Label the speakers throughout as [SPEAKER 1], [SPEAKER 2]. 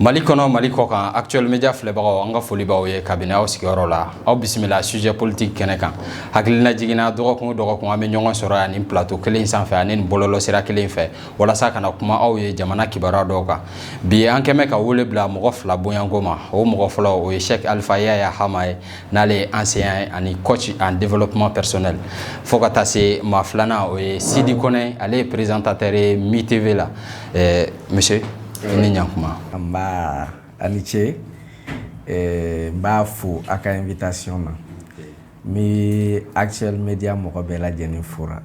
[SPEAKER 1] Mali kɔnɔ Mali kɔkan Actuel Media filɛbagaw an ka foli b'aw ye kabini aw sigiyɔrɔ la aw bisimila sujet politique kɛnɛ kan hakililajigin na dɔgɔkun dɔgɔkun an bɛ ɲɔgɔn sɔrɔ yan nin plateau kelen sanfɛ ani nin bɔlɔlɔsira kelen fɛ walasa ka na kuma aw ye jamana kibaruya dɔw kan bi an kɛmɛ ka wele bila mɔgɔ fila bonyanko ma o mɔgɔ fɔlɔ o ye Cheikh Alpha Yaya Hama ye n'ale ye enseignant ani coach en développement personnel fo ka taa se maa filanan o ye Sidi Kɔnɛ ale ye présentateur ye Mi TV la Ɛɛ monsieur ni ɲan kuma
[SPEAKER 2] nba a ni ce ɛɛ n b'a fo a ka invitation na n bɛ Actuel Media mɔgɔ bɛɛ lajɛlen fo la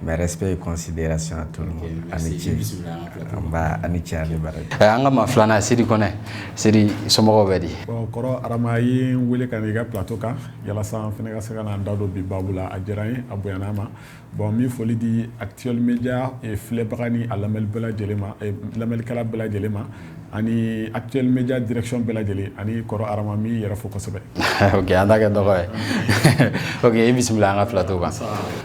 [SPEAKER 2] mes respects et considérations à tout le monde a ni ce nba a ni ce a ni baraji ɛɛ an ka maa filanan
[SPEAKER 1] Sidi Kɔnɛ Sidi somɔgɔw bɛ di bon kɔrɔ Arama
[SPEAKER 3] i ye n wele ka na i ka plateau kan yalasa n fana ka se ka na n da don bi baabu la a diyara n ye a bonyana n ma Bon n bɛ foli di Actuel Media filɛbaga ni a lamɛnni bɛɛ lajɛlen ma, lamɛnnikɛla bɛɛ lajɛlen ma ani Actuel Media direction bɛɛ lajɛlen ani kɔrɔ Arama n b'i yɛrɛ fo kosɛbɛ, ok an ta kɛ
[SPEAKER 1] dɔgɔ ye, ok i bisimila an ka plateau kan,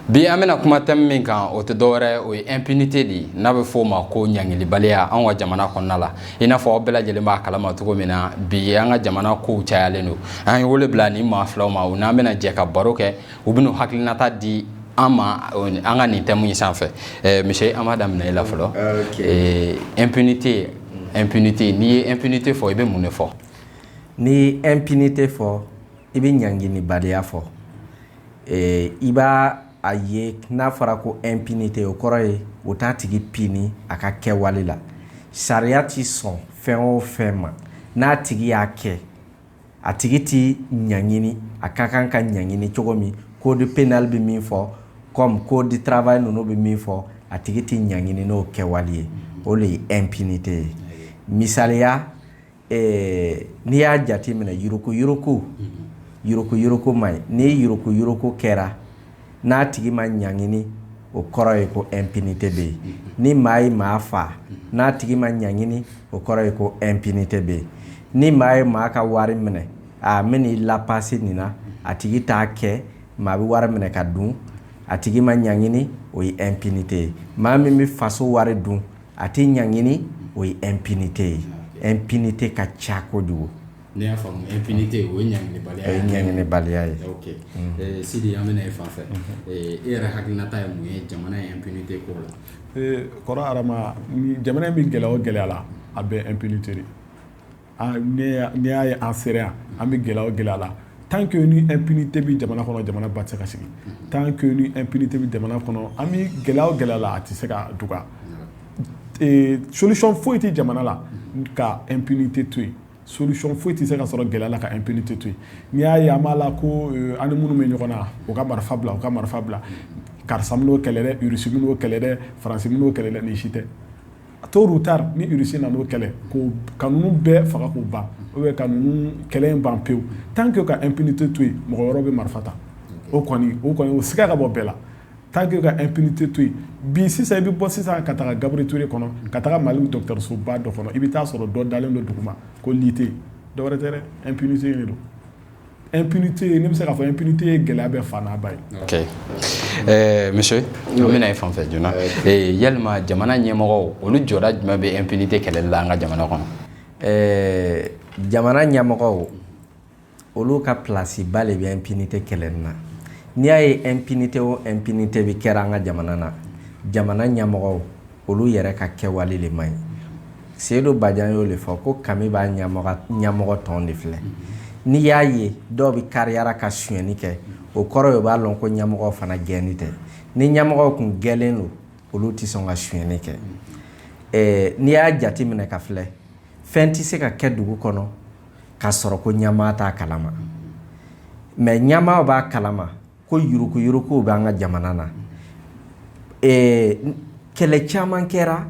[SPEAKER 1] bi an bɛna kuma thème min kan o tɛ dɔwɛrɛ ye o ye impunité de ye n'a bɛ fɔ o ma ko ɲangilibaliya anw ka jamana kɔnɔna la i n'a fɔ aw bɛɛ lajɛlen b'a kalama cogo min na bi an ka jamana kow cayalen don an ye wele bila nin maa filaw ma u n'an bɛna jɛ ka baro kɛ u bɛna hakilinata di an ma an ka nin thème in sanfɛ eh, monsieur an b'a daminɛ e la fɔlɔ eh, impunité impunité n'i ye impunité fɔ i bɛ mun de fɔ n'i ye
[SPEAKER 2] impunité fɔ i bɛ ɲanginibaliya fɔ eh, i b'a a ye n'a fɔra ko impunité o kɔrɔ ye o t'a tigi puni a ka kɛwale la sariya ti sɔn fɛn o fɛn ma n'a tigi y'a kɛ a tigi tɛ ɲangini a ka kan ka ɲangini cogo min code pénal bɛ min fɔ comme code du travail ninnu bɛ min fɔ a tigi tɛ ɲangini n'o kɛwale ye o de ye impunité ye misaliya n'i y'a jate minɛ yurukuyuruku yurukuyuruku ma ɲi ni yurukuyuruku kɛra n'a tigi ma ɲangini o kɔrɔ ye ko impunité bɛ yen ni maa ye maa faa n'a tigi ma ɲangini o kɔrɔ ye ko impunité bɛ yen ni maa ye maa ka wari minɛ a bɛn'i lapasi nin na a tigi t'a kɛ maa bɛ wari minɛ ka dun a tigi ma ɲangini o ye impunité ye maa min bɛ faso wari dun a tɛ ɲangini o ye impunité ye impunité ka ca kojugu
[SPEAKER 1] Ne y'a faamu impunité o ye ɲangibaliya ye ɲangibaliya
[SPEAKER 2] ye
[SPEAKER 1] ee sidi an bɛna e fan fɛ e yɛrɛ hakilinata ye mun ye jamana ye impunité ko la ee kɔrɔ
[SPEAKER 3] Arama jamana in bɛ gɛlɛya o gɛlɛya la a bɛɛ impunité de n'i y'a ye an sera yan an bɛ gɛlɛya o gɛlɛya la tant que ni impunité bɛ jamana kɔnɔ jamana ba tɛ se ka sigi tant que ni impunité bɛ jamana kɔnɔ an bɛ gɛlɛya o gɛlɛya la a tɛ se ka dɔgɔya solution foyi tɛ jamana la ka impunité to yen solution foyi tɛ se ka sɔrɔ gɛlɛya la ka impunité to yen n'i y'a ye an b'a la ko euh, an ni minnu bɛ ɲɔgɔn na u ka marifa bila u ka marifa bila karisa min'o kɛlɛ dɛ irisi min'o kɛlɛ dɛ faransi min'o kɛlɛ dɛ nin si tɛ tôt ou tard ni irisi nan'o kɛlɛ ka ninnu bɛɛ faga k'u ban ou bien ka ninnu kɛlɛ in ban pewu tant que ka impunité to yen mɔgɔ wɛrɛw bɛ marifa ta o kɔni o kɔni o siga ka bɔ bɛɛ la tant que ka impunité to yen bi sisan i bɛ bɔ sisan ka taa Gabriel Touré kɔnɔ ka taa mali dɔgɔtɔrɔsoba dɔ kɔnɔ i bɛ taa sɔrɔ dɔ dalen don duguma ko lit tɛ dɔwɛrɛ tɛ dɛ impunité de don impunité ye ne bɛ se k'a fɔ impunité ye gɛlɛya bɛɛ fa n'a ba
[SPEAKER 1] ye monsieur an bɛna e fan fɛ joona yalima jamana ɲɛmɔgɔw olu jɔda jumɛn bɛ impunité kɛlɛli la an ka jamana kɔnɔ ɛɛ jamana
[SPEAKER 2] ɲɛmɔgɔ olu ka plasiba de bɛ impunité kɛlɛli na n'i y'a ye impunité o impunité bɛ kɛra an ka jamana na jamana ɲɛmɔgɔw olu yɛrɛ ka kɛwale de man ɲi Seyidu Bajan y'o de fɔ ko kami b'a ɲɛmɔgɔ tɔn de filɛ n'i y'a ye dɔw bɛ kariyara ka sonyɛni kɛ o kɔrɔ ye u b'a dɔn ko ɲɛmɔgɔw fana gɛnin tɛ ni ɲɛmɔgɔw tun gɛlen don olu tɛ sɔn ka sonyɛni kɛ n'i y'a jate minɛ k'a filɛ fɛn tɛ se ka kɛ dugu kɔnɔ ka sɔrɔ ko ɲɛmaa t'a kalama mais ɲɛmaa b'a kalama ko yuruku yuruku bɛ an ka jamana na kɛlɛ caman kɛra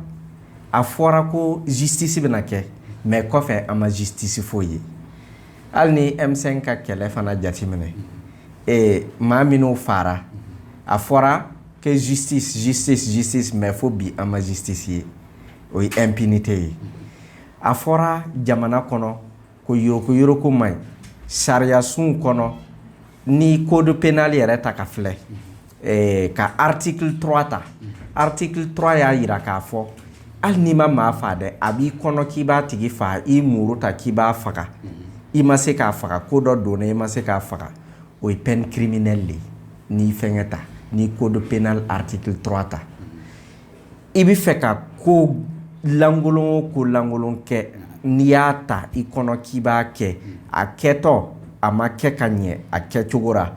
[SPEAKER 2] a fɔra ko justice bɛna kɛ mais kɔfɛ an ma justice foyi ye hali n'i M5 ka kɛlɛ fana jateminɛ maa minnu fara a fɔra ko justice justice justice mais fo bi an ma justice ye o ye impunité ye A fɔra jamana kɔnɔ ko yuruguyurugu man ɲi sariyasun kɔnɔ n'i code pénal yɛrɛ ta k'a filɛ ka article trois ta article trois y'a jira k'a fɔ hali n'i ma maa faa dɛ a b'i kɔnɔ k'i b'a tigi faa i muru ta k'i b'a faga i ma se k'a faga ko dɔ donna i ma se k'a faga o ye peine criminelle de ye n'i fɛn ta n'i code pénal article trois ta I bɛ fɛ ka ko lankolon o ko lankolon kɛ n'i y'a ta i kɔnɔ k'i b'a kɛ a kɛtɔ a ma kɛ ka ɲɛ a kɛcogo ra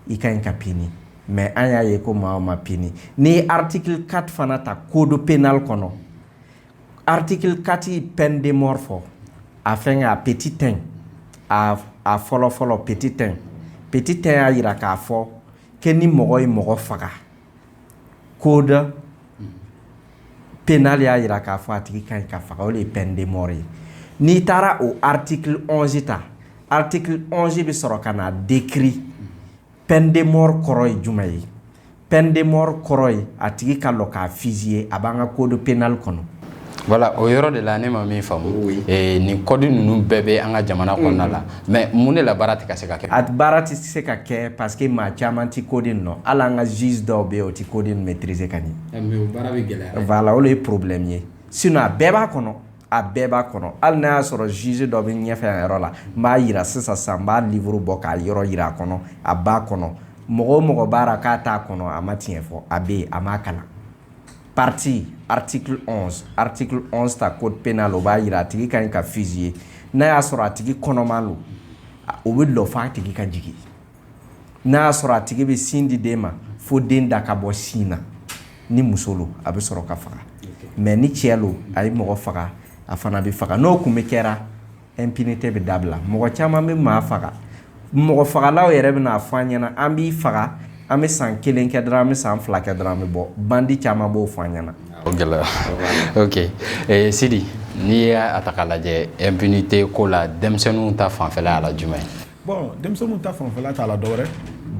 [SPEAKER 2] i ka ɲi ka pini mais an y'a ye ko maa ma pini n'i ye article quatre fana ta code pénal kɔnɔ article quatre ye peine de mort fɔ a fɛn a petit un a fɔlɔ fɔlɔ petit un petit un y'a jira k'a fɔ que ni mɔgɔ ye mɔgɔ faga koda p n'ale y'a jira k'a fɔ a tigi ka ka faga o de ye p denmo ye n'i taara o ati ta ati bɛ sɔrɔ ka na den ki p denmo kɔrɔ ye juma ye p denmo kɔrɔ ye a tigi ka k'a fisi ye a b'an ka kodo peinali kɔnɔ Voilà o
[SPEAKER 1] yɔrɔ de la ne ma min faamu nin code ninnu bɛɛ bɛ an ka jamana kɔnɔna la mais mun de la baara tɛ ka se ka kɛ a baara tɛ se ka kɛ
[SPEAKER 2] parce que maa caman tɛ code in dɔn hali an ka juge dɔw bɛ yen o tɛ code maîtriser ka ɲɛ
[SPEAKER 1] o de ye problème
[SPEAKER 2] ye sinon a bɛɛ b'a kɔnɔ a bɛɛ b'a kɔnɔ hali n'a y'a sɔrɔ juge dɔ bɛ ɲɛfɛ yan yɔrɔ la n b'a jira sisan n b'a livre bɔ k'a yɔrɔ jira a kɔnɔ a b'a kɔnɔ mɔgɔ o mɔgɔ b'a la k'a t'a kɔnɔ a ma tiɲɛ fɔ a bɛ yen a m'a kalan partie article onze article onze ta code pénal o b'a jira a tigi ka ɲi ka fusiller n'a y'a sɔrɔ a tigi kɔnɔma don o bɛ lɔ fɔ a tigi ka jigin n'a y'a sɔrɔ a tigi bɛ sin di den ma fo den da ka bɔ sin na ni muso don a bɛ sɔrɔ ka faga mais ni cɛ don a ye mɔgɔ faga a fana bɛ faga n'o tun bɛ kɛra Impunité bɛ dabila mɔgɔ caman bɛ maa faga mɔgɔ fagalaw yɛrɛ bɛ n'a fɔ an ɲɛna an b'i faga an bɛ san kelen kɛ dɔrɔn an bɛ san fila kɛ dɔrɔn an bɛ bɔ bandi caman b'o fɔ an ɲɛna
[SPEAKER 1] gɛlɛya Sidi n'i y'a ta k'a lajɛ impunité ko la denmisɛnninw ta fanfɛla y'a la jumɛn ye bon denmisɛnninw
[SPEAKER 3] ta fanfɛla t'a la dɔwɛrɛ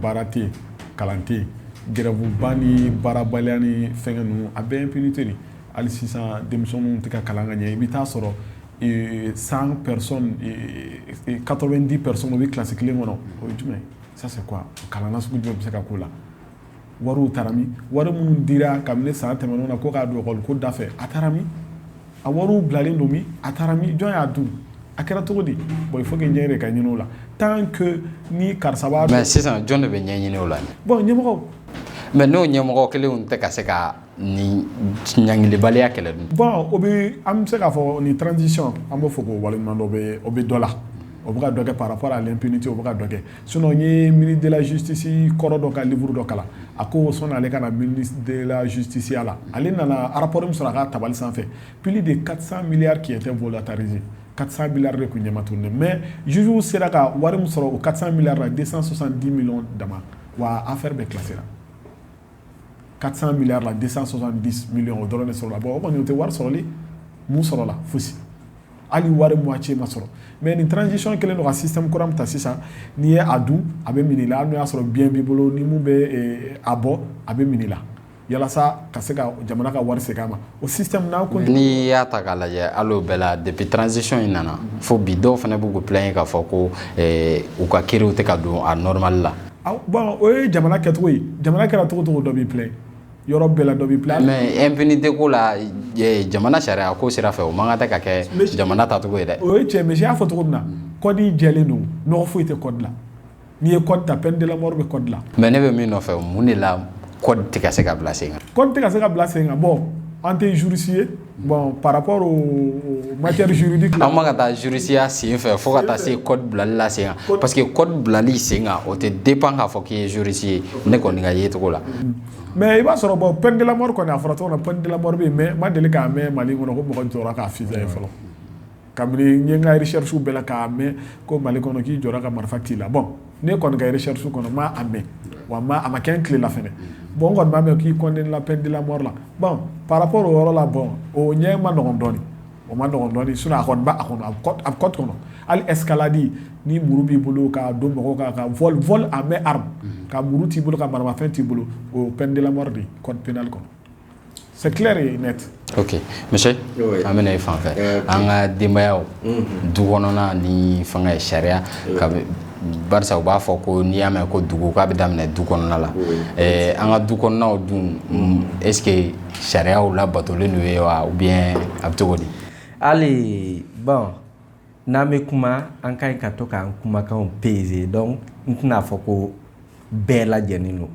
[SPEAKER 3] baara tɛ yen kalan tɛ yen gɛrɛvuba ni baarabaliya ni fɛn ninnu a bɛɛ impunité de hali sisan denmisɛnninw tɛ ka kalan ka ɲɛ i bɛ taa sɔrɔ cent personnes quatre-vingt-dix personnes o bɛ kilasi kelen kɔnɔ o ye jumɛn ça c'est quoi kalan sugu jumɛn bɛ se ka k'o la wari taara min wari minnu dira kabini san tɛmɛnenw na ko k'a don ekɔli ko da fɛ a taara min a wari bilalen don min a taara min jɔn y'a dun a kɛra cogo di bon fo ɲɛ de ka ɲini o la tan ni karisa mais sisan jɔn de bɛ ɲɛ
[SPEAKER 1] ɲini o la bon
[SPEAKER 3] ɲɛmɔgɔw mais
[SPEAKER 1] n'o ɲɛmɔgɔ kelenw tɛ ka se ka Ni ɲgkilibaliya kɛlɛ dun bɔn o bɛ an
[SPEAKER 3] bɛ se k'a fɔ ni tranzsi an bɛ fɔ k'o walima dɔ bɛ o bɛ dɔ la o bɛ dɔ kɛ pa pa ale ppite o bɛ dɔ kɛ sin ye miiridelazsisi kɔrɔ dɔ ka uru dɔ kalan a ko sɔn ale ka mirizsiya la ale nana arapo sɔrɔ a ka tabali sanfɛ ppli de karisa miiri ke tɛ bolola tarize karisa mi de tun ɲamamat ne mɛ zsiww sera ka wari min sɔrɔ o ka mi la desa sɔsan di min dama wa an fɛ bɛ kilasi la quatre cents milliards la deux cent soixante-dix millions o dɔrɔn de sɔrɔla bon o kɔni tɛ wari sɔrɔli mun sɔrɔla foyisi hali wari moitié ma sɔrɔ mais ni transition kelen don ka système kura ta sisan n'i ye a dun a bɛ minɛ i la hali n'a y'a sɔrɔ bien b'i bolo ni min bɛ a bɔ a bɛ minɛ i la yalasa ka se ka jamana ka wari segin a ma o n'i y'a ta k'a
[SPEAKER 1] lajɛ hali o bɛɛ la depuis transition in nana fo bi dɔw fana b'u plaindre k'a fɔ ko u ka kiriw tɛ ka don a normal la Bon o
[SPEAKER 3] ye jamana kɛcogo ye jamana kɛra cogo o cogo dɔ b'i plaindre yɔrɔ bɛɛ la dɔ b'i plaindre mais impunité ko la
[SPEAKER 1] jamana sariya ko sira fɛ o man kan ka kɛ jamana tacogo ye dɛ o ye cɛ monsieur y'a fɔ cogo
[SPEAKER 3] min na code jɛlen don nɔgɔ foyi tɛ code la n'i ye code ta peine de la mort bɛ code la mais ne bɛ min nɔfɛ
[SPEAKER 1] mun de la code tɛ ka se ka bila sen kan code tɛ ka se ka bila sen
[SPEAKER 3] kan bon an tɛ juriste ye Bon parap ma ka taa zurunsiya
[SPEAKER 1] sen fɛ fo ka taa se bilali la sen parce que kɔ bilali sen o tɛ den pan k'a fɔ k'i ye zurunsi ye ne kɔni ka yecogo la mɛ i b'a
[SPEAKER 3] sɔrɔ bɔ pɛkɛla kɔni a fɔra tɔgɔ la pɛkɛla mɛ ma deli k'a mɛn mali kɔnɔ ko mɔgɔ jɔ k'a fi ye fɔlɔ kabini n ye n ka recherche bɛɛ la k'a mɛn ko mali kɔnɔ k'i jɔ ka marifa t'i la bon ne kɔni ka recherche kɔnɔ n ma a mɛn wa a ma kɛ n tile la fɛnɛ bon n kɔni b'a mɛn k'i condamné la peine de la mort la bon par rapport o yɔrɔ la bon o ɲɛ man nɔgɔn dɔɔni o man nɔgɔn dɔɔni sinon a kɔni b'a kɔnɔ a bɛ code kɔnɔ hali escalade ni muru b'i bolo ka don mɔgɔw kan ka vol à main armée ka muru t'i bolo ka maramafɛn t'i bolo o ye peine de la mort de ye code pénal kɔnɔ C'est clair
[SPEAKER 1] monsieur an bɛna i fan fɛ an ka denbayaw du kɔnɔna ni fanga ye sariya ka barisa u b'a fɔ ko n'i y'a mɛn ko dugu k'a bɛ daminɛ du kɔnɔna la an ka du kɔnɔnaw dun est-ce que sariyaw labatolen don u ye wa ou bien a bɛ cogo di hali
[SPEAKER 2] N'an bɛ kuma an ka ɲi ka to k'an kumakanw peser donc n tɛna a fɔ ko bɛɛ lajɛlen don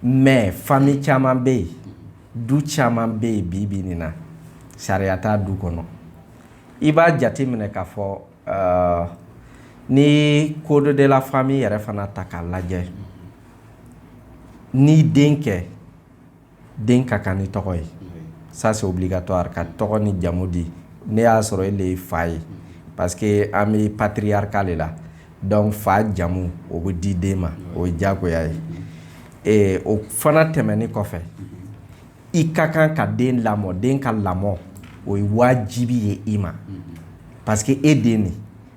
[SPEAKER 2] mais famille caman bɛ yen du caman bɛ yen bi bi nin na sariya t'a du kɔnɔ i b'a jate minɛ k'a fɔ ni code de la famille yɛrɛ fana ta k'a lajɛ ni den kɛ den ka kan ni tɔgɔ ye ça c'est obligatoire ka tɔgɔ ni jamu di n'a y'a sɔrɔ e de ye fa ye parce que an bɛ patriarcat de la donc fa jamu o bɛ di den ma o ye diyagoya ye ee o fana tɛmɛni kɔfɛ i ka kan ka den lamɔ den ka lamɔ o ye wajibi ye i ma parce que e den de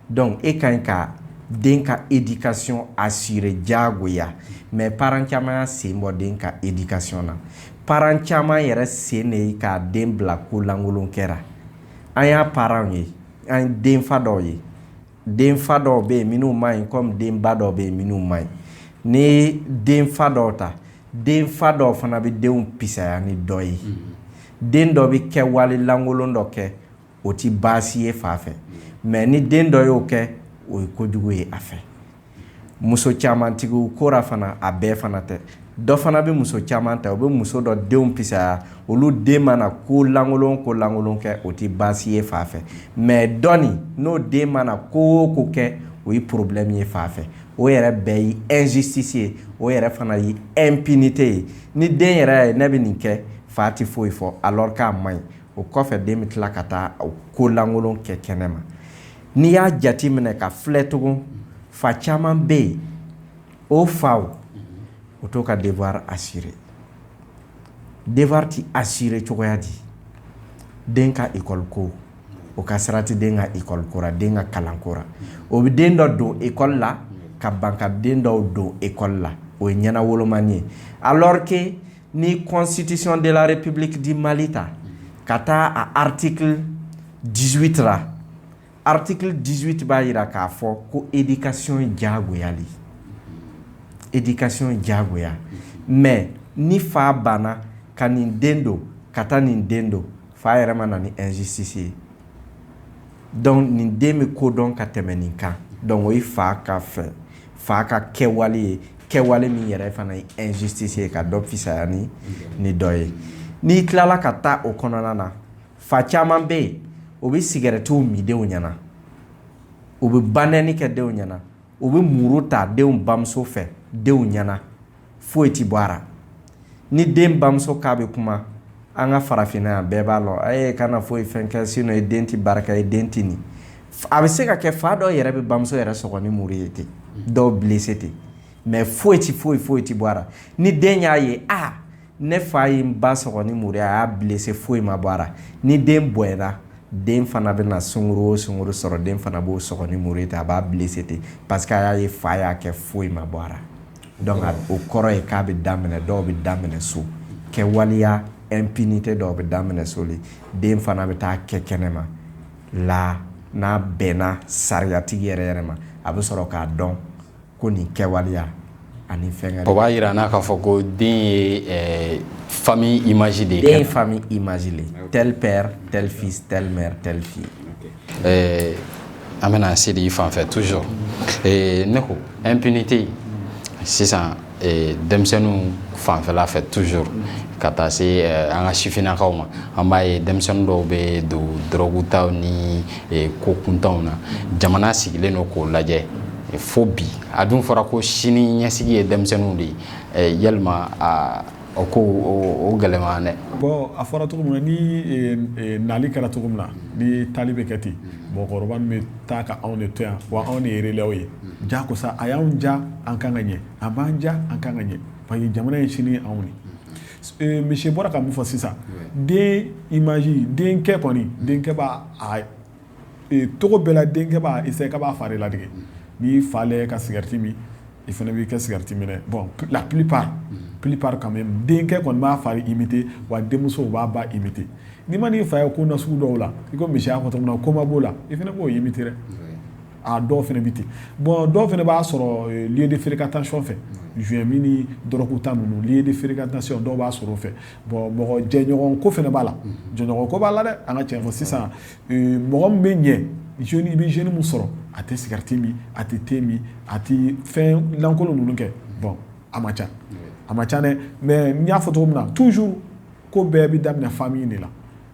[SPEAKER 2] donc e ka ɲi ka den ka éducation assurer jagoya mais parent caman y'a sen bɔ den ka éducation na parent caman yɛrɛ sen de ye ka den bila ko lankolon kɛra an y'a parents ye an denfa dɔw ye denfa dɔw bɛ yen minnu man ɲi comme denba dɔw bɛ yen minnu man ɲi ni denfa dɔw ta denfa dɔw fana bɛ denw pisaya ni dɔ ye den dɔ bɛ kɛwale lankolon dɔ kɛ o tɛ baasi ye fa fɛ mais ni den dɔ y'o kɛ o ye kojugu ye a fɛ muso camantigiw kora fana a bɛɛ fana tɛ dɔ fana bɛ muso caman ta u bɛ muso dɔ denw pisaya olu den mana ko lankolon ko lankolon kɛ o tɛ baasi ye fa fɛ mais dɔɔnin n'o den mana ko ko kɛ o ye problème ye fa fɛ o yɛrɛ bɛɛ ye injustice ye o yɛrɛ fana ye impunité ye ni den yɛrɛ ye ne bɛ nin kɛ fa tɛ foyi fɔ alors k'a man ɲi o kɔfɛ den bɛ tila ka taa ko lankolon kɛ kɛnɛ ma n'i y'a jate minɛ ka filɛ tugun fa caman bɛ yen o faw o t'o ka devoir assurer devoir tɛ assurer cogoya di den ka école ko o ka sira tɛ den ka école kora den ka kalan kora o bɛ den dɔ don école la ka ban ka den dɔw don école la o ye ɲɛnawoloma ye alors que ni constitution de la république du Mali ta ka taa a article dix-huit ra article dix-huit b'a jira k'a fɔ ko éducation diyagoya de éducation diyagoya mais ni fa banna ka nin den don ka taa nin den don fa yɛrɛ ma na ni injustice ye donc nin den bɛ ko dɔn ka tɛmɛ nin kan donc o ye fa ka fɛ fa ka kɛwale ye kɛwale min yɛrɛ fana ye injustice ye ka dɔ fisaya ni dɔ ye n'i tilala ka taa o kɔnɔna na fa caman bɛ yen o bɛ sigarɛtiw min denw ɲɛna u bɛ banɛni kɛ denw ɲɛna u bɛ muru ta denw bamuso fɛ denw ɲɛna foyi tɛ bɔ a la ni den bamuso k'a bɛ kuma an ka farafinna yan bɛɛ b'a lɔn a ye kana foyi fɛn kɛ sinon e den tɛ barika e den tɛ nin a bɛ se ka kɛ fa dɔw yɛrɛ bɛ bamuso yɛrɛ sɔgɔ ni muru ye ten dɔw blessé ten mais foyi tɛ foyi foyi tɛ bɔ a la ni den y'a ye aa ne fa ye n ba sɔgɔ ni muru ye a y'a blessé foyi ma bɔ a la ni den bɔla den fana bɛ na sungurun o sungurun sɔrɔ den fana b'o sɔgɔ ni muru ye ten a b'a blessé ten parce que a y'a ye fa y'a kɛ foyi ma bɔ a donc o kɔrɔ ye k'a bɛ daminɛ dɔw bɛ daminɛ so kɛwaleya impunité dɔw bɛ daminɛ so de den fana bɛ taa kɛ kɛnɛ ma la n'a bɛnna sariyatigi yɛrɛ yɛrɛ ma a bɛ sɔrɔ k'a dɔn ko nin kɛwaleya ani fɛn o b'a jira an
[SPEAKER 1] na k'a
[SPEAKER 2] fɔ
[SPEAKER 1] ko den ye fa image de ye fa image
[SPEAKER 2] le tel père tel fils telle mère telle fille
[SPEAKER 1] ɛɛ an bɛna se de i fan fɛ toujours ee ne ko impunité sisan ee denmisɛnninw fanfɛla fɛ toujours ka taa se eh, an ka sifinnakaw ma an b'a ye denmisɛnnin dɔw bɛ don dɔrɔgutaw ni eh, ko kuntanw na jamana sigilen don k'o lajɛ eh, fo bi a dun fɔra ko sini ɲɛsigi ye denmisɛnninw de ye eh, yalima a O ko o gɛlɛman bon a fɔra cogo
[SPEAKER 3] min na ni nali kɛra cogo min na ni taali bɛ kɛ ten mɔgɔkɔrɔba bɛ taa ka anw de to yan wa anw de ye relève ye ja ko sa a y'an ja an kan ka ɲɛ a m'an ja an kan ka ɲɛ parce que jamana ye sini anw ye monsieur bɔra ka min fɔ sisan den image denkɛ kɔni denkɛ b'a tɔgɔ bɛɛ denkɛ b'a se ka b'a fari latigɛ n'i fa ka sɛgɛrɛti min i fana b'i kɛ sɛgɛrɛti minɛ bɔn la p p ka denkɛ kɔni b'a fa i bɛ wa denmuso b'a ba i bɛ n'i ma n'i fa ye ko na sugu dɔw la i ko misiya kɔnɔ min na koma b'o la i fana b'o ye bɛ aa dɔw fana bɛ ten bɔn dɔw fana b'a sɔrɔ de feere ka taasi fɛ z min dɔrɔku tan ninnu de feere ka taayan dɔw b'a sɔrɔ fɛ bon mɔgɔ jɛɲɔgɔn ko fana b'a la jɛɲɔgɔn ko b'a la dɛ an ka cɛn fɔ sisan mɔgɔ min bɛ yen jeune i bɛ jeune min sɔrɔ a tɛ sigarɛti min a tɛ te min a tɛ fɛn lankolon ninnu kɛ bon a man ca a man ca dɛ mais n y'a fɔ cogo min na toujours ko bɛɛ bɛ daminɛ famille de la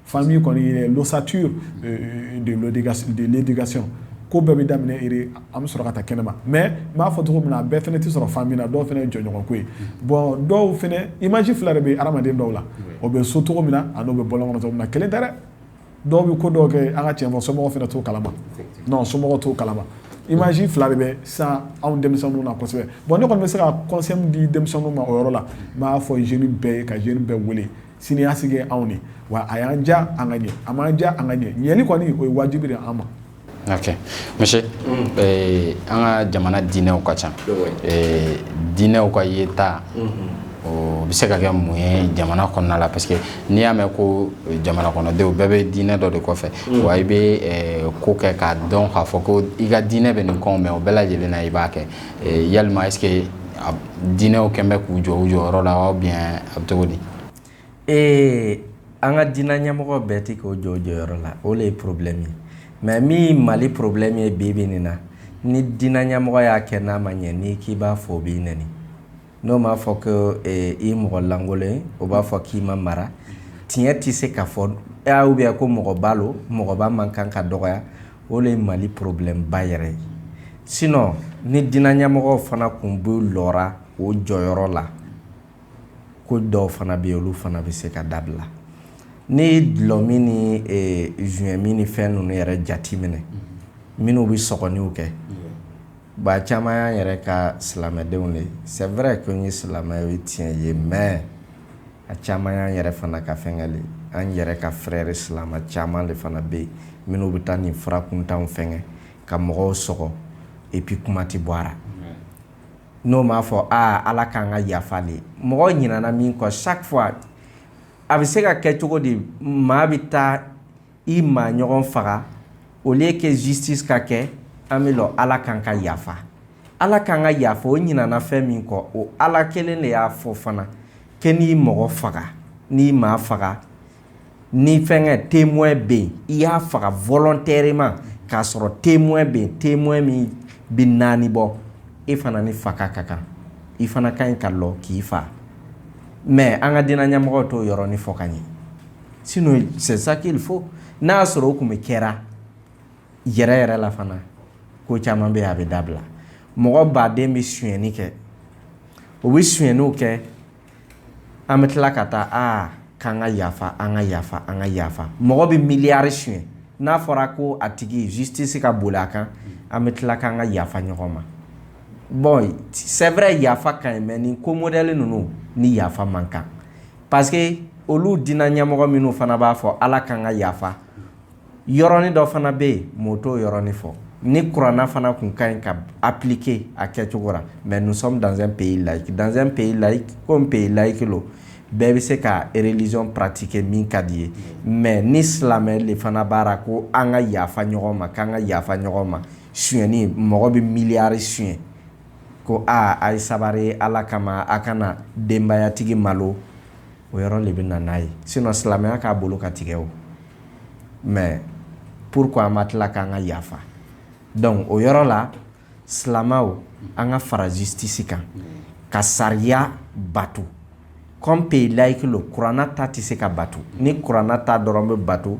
[SPEAKER 3] Famille kɔni l'ossature de l'éducation ko bɛɛ bɛ daminɛ an bɛ sɔrɔ ka taa kɛnɛ ma mais n b'a fɔ cogo min na a bɛɛ fana tɛ sɔrɔ famille na dɔw fana ye jɛɲɔgɔn ko ye bon dɔw fana image fila de bɛ hadamaden dɔw la o bɛ so cogo min na a n'o bɛ bɔlɔn kɔnɔ cogo min na kelen tɛ dɛ dɔw bɛ ko dɔw kɛ an ka cɛn fɔ somɔgɔw fana t'o kalama somɔgɔw t'o kalama image fila de bɛ san anw denmisɛnninw na kosɛbɛ bon ne kɔni bɛ se ka conseil di denmisɛnninw ma o yɔrɔ la n b'a fɔ jeune bɛɛ ye ka jeune bɛɛ wele sini ɲɛsigi ye anw de wa a y'an ja an ka ɲɛ a m'an ja an ka ɲɛ ɲɛli kɔni o ye wajibi de an ma
[SPEAKER 1] ok monsieur mm. eh, an ka jamana diinɛw ka ca eh, diinɛw ka yeta mm -hmm. o bɛ se ka kɛ mun ye jamana kɔnɔna la parce que n'i y'a mɛn ko eh, jamana kɔnɔdenw bɛɛ bɛ diinɛ dɔ de kɔfɛ mm. wa i bɛ eh, ko kɛ k'a dɔn k'a fɔ ko i ka diinɛ bɛ nin kɔn mais o bɛɛ lajɛlen na i b'a kɛ yalima est-ce que diinɛw kɛlen bɛ k'u jɔ u jɔyɔrɔ la a bɛ cogo di ee
[SPEAKER 2] an ka diinɛ ɲɛmɔgɔ bɛɛ tɛ k'o jɔ o jɔyɔrɔ la o de ye problème ye mais min Mali problème ye bi bi in na ni diinɛ ɲɛmɔgɔ y'a kɛ n'a ma ɲɛ n'i k'i b'a fɔ o b'i n N'o m'a fɔ ko i mɔgɔ lankolon o b'a fɔ k'i ma mara tiɲɛ tɛ se ka fɔ ou bien ko mɔgɔba lo mɔgɔba man kan ka dɔgɔya o de ye mali problèmeba yɛrɛ ye sinon ni diinɛ ɲɛmɔgɔw fana tun bɛ lɔ o jɔyɔrɔ la ko dɔw fana bɛ yen olu fana bɛ se ka dabila n'a ye dulɔ min ni joint min ni fɛn ninnu yɛrɛ jate minɛ minnu bɛ sɔgɔniw kɛ Ba caman y'an yɛrɛ ka silamɛdenw de c'est vrai que n ye silamɛ ye tiɲɛ ye mais a caman y'an yɛrɛ fana ka fɛnkɛ le an yɛrɛ ka frère silamɛ caman de fana bɛ yen minnu bɛ taa nin fura kuntanw fɛnkɛ ka mɔgɔw sɔgɔ et puis kuma tɛ bɔ n'o b'a fɔ aa ala k'an ka yafa de mɔgɔ ɲinana min kɔ chaque fois a bɛ se ka kɛ cogo di maa bɛ taa i maa ɲɔgɔn faga au lieu que justice ka kɛ an bɛ lɔ ala k'an ka yafa ala k'an ka yafa o ɲinana fɛn min kɔ o ala kelen de y'a fɔ fana que n'i mɔgɔ faga n'i maa faga ni fɛnkɛ témoin bɛ yen i y'a faga volontairement k'a sɔrɔ témoin bɛ yen témoin min bɛ naani bɔ e fana ni faga ka kan i fana ka ɲi ka lɔ k'i fa mais an ka diinɛ ɲɛmɔgɔw t'o yɔrɔnin fɔ ka ɲɛ Sinon c'est ça qu'il faut n'a y'a sɔrɔ o tun bɛ kɛra yɛrɛ yɛrɛ la fana ko caman bɛ yen a bɛ dabila mɔgɔba den bɛ suyɛnni kɛ o bɛ suyɛnniw kɛ an bɛ tila ka taa aa k'an ka yafa an ka yafa an ka yafa mɔgɔ bɛ miliyari suyɛn n'a fɔra ko a tigi justice ka boli a kan an bɛ tila k'an ka yafa ɲɔgɔn ma bon c'est vrai yafa ka ɲi mais nin ko modèle ninnu ni yafa man kan parce que olu dina ɲɛmɔgɔ minnu fana b'a fɔ ala k'an ka yafa yɔrɔnin dɔ fana bɛ yen mɔɔ t'o yɔrɔnin fɔ ni kuranna fana kun ka ɲi ka appliquer a kɛcogo la mais nous sommes dans un pays laïque dans un pays laïque comme pays laïque lo bɛɛ bɛ se ka religion pratiquer min ka d'i ye mais ni silamɛ de fana b'a ra ko an ka yafa ɲɔgɔn ma k'an ka yafa ɲɔgɔn ma suyɛnni mɔgɔ bɛ miliyari suyɛn ko aa a ye sabari ala kama a kana denbayatigi malo o yɔrɔ de bɛ na n'a ye sinon silamɛya k'a bolo ka tigɛ o mais pourquoi an ma tila k'an ka yafa donc o yɔrɔ la silamɛw an ka fara justice kan ka sariya bato comme pays laïque lo kuranna ta tɛ se ka bato ni kuranna ta dɔrɔn bɛ bato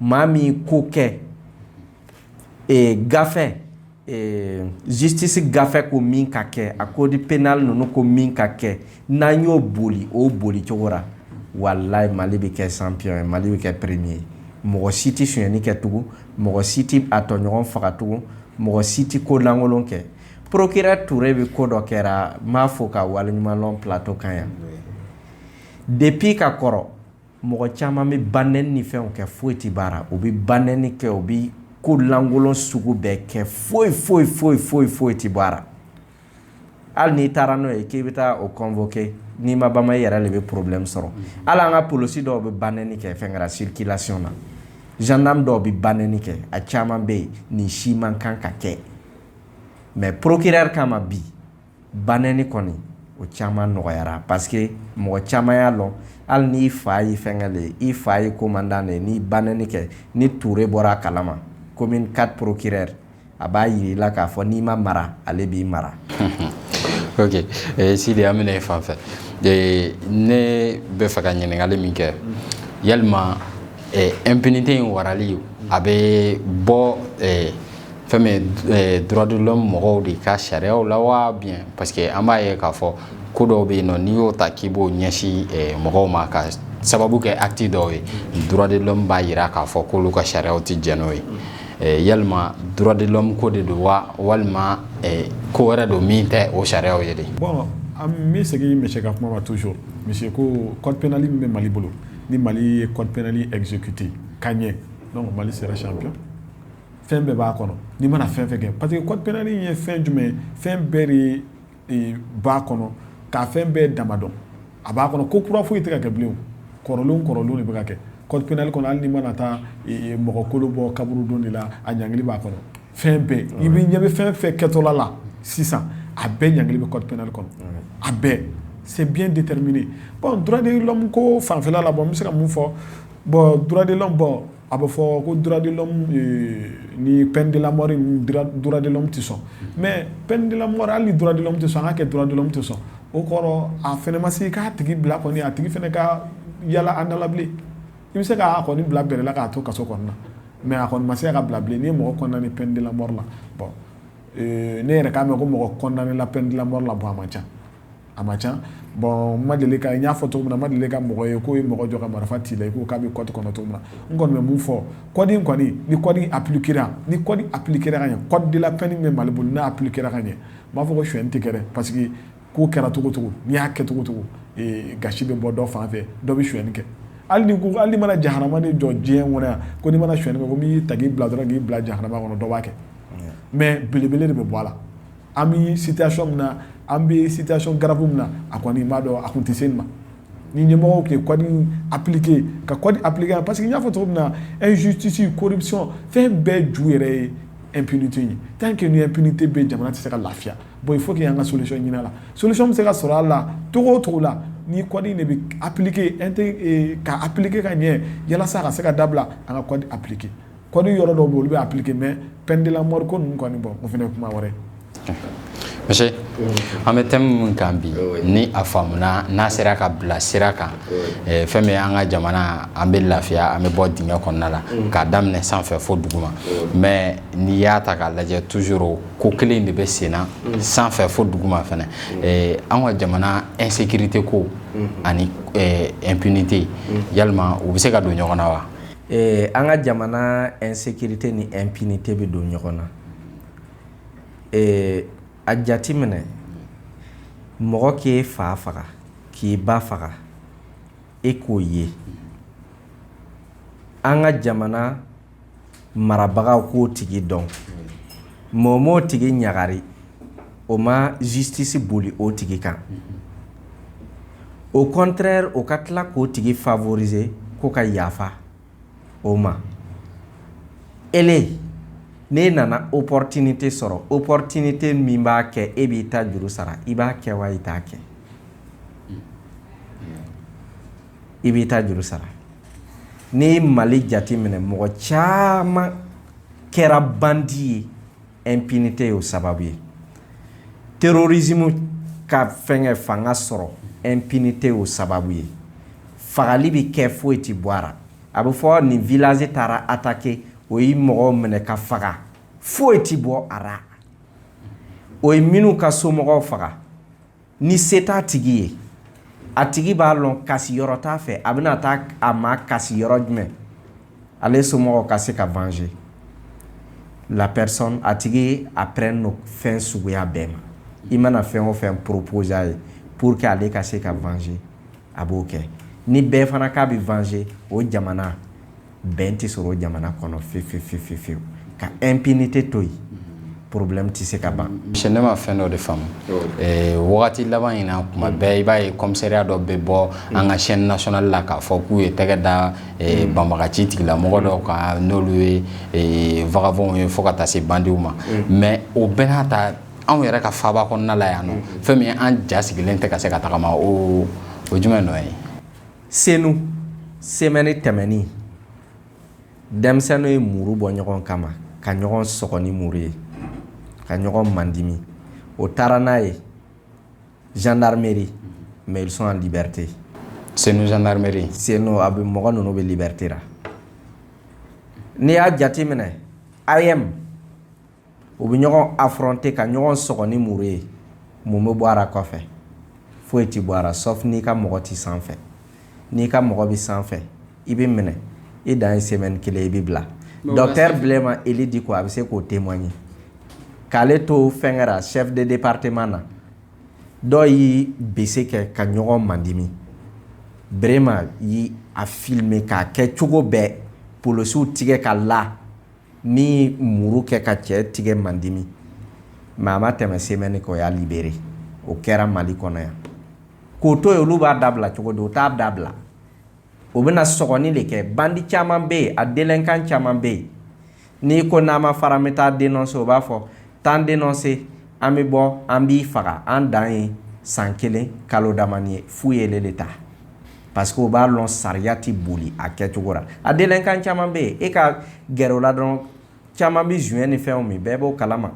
[SPEAKER 2] maa min ko kɛ gafe justice gafe ko min ka kɛ a code pénal ninnu ko min ka kɛ n'an y'o boli o boli cogo la wallahi mali bɛ kɛ champion ye mali bɛ kɛ premier ye mɔgɔ si tɛ sonyɛni kɛ tugun mɔgɔ si tɛ a tɔɲɔgɔn faga tugun mɔgɔ si tɛ ko lankolon kɛ procureur Touré bɛ ko dɔ kɛra n b'a fo k'a waleɲumanlɔn plateau kan yan depuis ka kɔrɔ Mɔgɔ caman bɛ banɛni fɛnw kɛ foyi tɛ b'a ra u bɛ banɛni kɛ u bɛ ko lankolon sugu bɛɛ kɛ foyi foyi foyi foyi foyi tɛ b'a ra hali n'i taara n'o ye k'i bɛ taa o convoqué n'i ma bama i yɛrɛ de bɛ problème sɔrɔ hali an ka polosi dɔw bɛ banɛni kɛ fɛn kɛra circulation na gendarme dɔw bɛ banɛni kɛ a caman bɛ yen nin si man kan ka kɛ mais procureur kama bi Banɛni kɔni o caman nɔgɔyara parce que mɔgɔ caman y'a lɔn hali n'i fa ye fɛnkɛ de i fa ye commandant de n'i banɛni kɛ ni Touré bɔra a kalama commune quatre procureur a b'a yira i la k'a fɔ n'i ma mara ale b'i
[SPEAKER 1] mara Sidi an bɛ na e fan fɛ ne bɛ fɛ ka ɲininkali min kɛ yalima impunité in waralen a bɛ bɔ fɛn min droit de l'homme mɔgɔw de ka sariyaw la wa ou bien parce que an b'a ye k'a fɔ ko dɔw bɛ yen nɔ n'i y'o ta k'i b'o ɲɛsin mɔgɔw ma ka sababu kɛ acte dɔw ye droit de l'homme b'a jira k'a fɔ k'olu ka sariyaw tɛ jɛn n'o ye yalima droit de l'homme ko de don wa walima ko wɛrɛ don min tɛ o sariya ye de bon an
[SPEAKER 3] bɛ segin monsieur ka kuma ma toujours monsieur ko code pénal min bɛ mali bolo ni mali ye code pénal exécuté ka ɲɛ mali sera si fɛn bɛɛ b'a kɔnɔ n'i mana fɛn fɛn kɛ parce que code pénal ye fɛn jumɛn ye fɛn bɛɛ de b'a kɔnɔ k'a fɛn bɛɛ dama dɔn a b'a kɔnɔ ko kura foyi tɛ ka kɛ bilen kɔrɔlen kɔrɔlen de bɛ ka kɛ code pénal kɔnɔ hali n'i mana taa mɔgɔ kolo bɔ kaburudo de la a ɲangili b'a kɔnɔ fɛn bɛɛ i bɛ ɲɛ bɛ fɛn fɛn kɛtɔla la sisan a bɛɛ ɲangili bɛ code pénal kɔnɔ a bɛɛ c'est bien déterminé bon droit de l'homme ko fanfɛla la bon n bɛ se ka mun fɔ bon droit de l'homme bon A bɛ fɔ ko ni pdlamadilama tɛ sɔn mɛ pdila hali duladila tɛ sɔn an ka kɛ duladilama tɛ sɔn o kɔrɔ a fana ma se k'a tigi bila a tigi fana ka yalala andalabilen i bɛ se k'a kɔni bila bɛrɛla k'a to kaso kɔnɔna na mɛ a kɔni ma se ka bilabilen ni mɔgɔ ni pdilama la ne yɛrɛ k'a mɛn ko mɔgɔ kɔnɔnala pdilama la bɔ a ma ca a man ca bon n ma deli ka n y'a fɔ cogo min na n ma deli ka mɔgɔ ye k'o ye mɔgɔ jɔ ka marifa c'i la i ko k'a bɛ code kɔnɔ cogo min na n kɔni bɛ mun fɔ code in kɔni ni code appliqué ni code appliquera ka ɲɛ code de la peine min bɛ mali bolo n'a appliquera ka ɲɛ n b'a fɔ ko suɲɛni tɛ kɛ dɛ parce que ko kɛra cogocogo n'i y'a kɛ cogocogo gasi bɛ bɔ dɔ fan fɛ dɔ bɛ suɲɛni kɛ hali ko hali n'i mana jahanama de jɔ diɲɛ kɔnɔ yan ko n'i mana suɲɛni kɛ ko n'i ta k'i bila dɔrɔn k'i bila jahanama kɔnɔ dɔ b'a kɛ mais belebele de bɛ bɔ a la an bɛ sitasi min na an bɛ sitasi garibu min na a kɔni b'a dɔn a tun tɛ se ma ni ɲɛmɔgɔ tɛ kɔni apkike ka kɔni apkeke a parce que n y'a fɔ cogo min na e zutisi koɔrisɔn fɛn bɛɛ ju yɛrɛ ye epini ye tan kɛ ye pini-te bɛ jamana tɛ se ka lafiya bon fo k' an ka sosɔn ɲinin la sosi bɛ se ka sɔrɔ a la to o cogo la ni kɔni de bɛ apkike ka apkike ka ɲɛ yalasa ka se ka dabila an ka kɔn apkike code yɔrɔ dɔw bɛ olu bɛ appliquer mais peine de la mort ko ninnu kɔni bon o fana ye kuma
[SPEAKER 1] wɛrɛ monsieur an bɛ thème min kan bi ni a faamuna n'a sera ka bila sira kan eh, fɛn bɛ an ka jamana an bɛ lafiya an bɛ bɔ dingɛ kɔnɔna la mm. k'a daminɛ sanfɛ fo duguma mais n'i y'a ta k'a lajɛ toujours ko kelen de bɛ senna mm. sanfɛ fo duguma fana mm. eh, an ka jamana insécurité ko mm-hmm. ani impunité eh, yalima u bɛ se ka don ɲɔgɔn na wa Ɛɛ an
[SPEAKER 2] ka jamana insécurité ni impunité bɛ don ɲɔgɔn na ɛɛ a jate minɛ mɔgɔ k'i fa faga k'i ba faga e k'o ye an ka jamana marabagaw k'o tigi dɔn o m'o tigi ɲagari o ma justice boli o tigi kan au contraire o ka tila k'o tigi favoriser ko ka yafa o ma ele n'e nana opportunité sɔrɔ opportunité min b'a kɛ e b'i ta juru sara i b'a kɛ wa i t'a kɛ i b'i ta juru sara n'i mali jate minɛ mɔgɔ caman kɛra bandi ye impunité y'o sababu ye terrorisme ka fɛnkɛ fanga sɔrɔ impunité y'o sababu ye fagali bɛ kɛ foyi tɛ bɔ a ra a bɛ fɔ nin village taara attaquer o ye mɔgɔw minɛ ka faga foyi tɛ bɔ a ra o ye minnu ka somɔgɔw faga ni se t'a tigi ye a tigi b'a lɔn kasi yɔrɔ t'a fɛ a bɛna taa a makasi yɔrɔ jumɛn ale somɔgɔw ka se ka venger la personne a tigi a prêt no fɛn suguya bɛɛ ma i mana fɛn o fɛn proposer a ye pour que ale ka se ka venger a b'o kɛ ni bɛɛ fana k'a bɛ venger o jamana bɛn tɛ sɔrɔ jamana kɔnɔ fefefefefewu ka impunité to yen problème tɛ se ka ban si ne ma fɛn dɔ
[SPEAKER 1] de faamu wagati laban in na tuma bɛɛ i b'a ye commissariat dɔ bɛ bɔ an ka chaîne nationale la k'a fɔ k'u ye tɛgɛ da banbagaci tigilamɔgɔ dɔw kan n'olu ye vagabonds ye fo ka taa se bandiw ma mais o bɛɛ n'a ta anw yɛrɛ ka faaba kɔnɔna yan fɛn min an ja sigilen tɛ ka se ka tagama o jumɛn ye
[SPEAKER 2] senu semaine tɛmɛni denmisɛnninw ye muru bɔ ɲɔgɔn kama ka ɲɔgɔn sɔgɔ ni muru ye ka ɲɔgɔn mandimi o taara n'a ye gendarmerie mais ils sont en liberté
[SPEAKER 1] senu gendarmerie senu a bɛ mɔgɔ
[SPEAKER 2] ninnu bɛ liberté ra n'i y'a jateminɛ AEEM u bɛ ɲɔgɔn affronter ka ɲɔgɔn sɔgɔ ni muru ye mun bɛ bɔ a ra kɔfɛ foyi tɛ bɔ a la sauf n'i ka mɔgɔ tɛ sanfɛ n'i ka mɔgɔ bɛ sanfɛ i bɛ minɛ i dan ye semaine kelen i bɛ bila docteur Brema Ely Dicko a bɛ se k'o témoigner k'ale to fɛnkɛra chef de département na dɔw ye bese kɛ ka ɲɔgɔn mandimi Brema y'a filmer k'a kɛ cogo bɛɛ polosiw tigɛ ka la ni muru kɛ ka cɛ tigɛ mandimi mais a ma tɛmɛ semaine kɔ o y'a libérer o kɛra mali kɔnɔ yan k'o to yen olu b'a dabila cogo di u t'a dabila o bɛna sɔgɔni de kɛ bandi caman bɛ yen a délinquant caman bɛ yen n'i ko n'an ma fara an bɛ taa dénoncer o b'a fɔ t'an dénoncer an bɛ bɔ an b'i faga an dan ye san kelen kalo damani ye fu ye de ta Parce que u b'a dɔn sariya tɛ boli a kɛcogo la a délinquant caman bɛ yen e ka gɛrɛ o la dɔrɔn caman bɛ joint ni fɛn min bɛɛ b'o kalama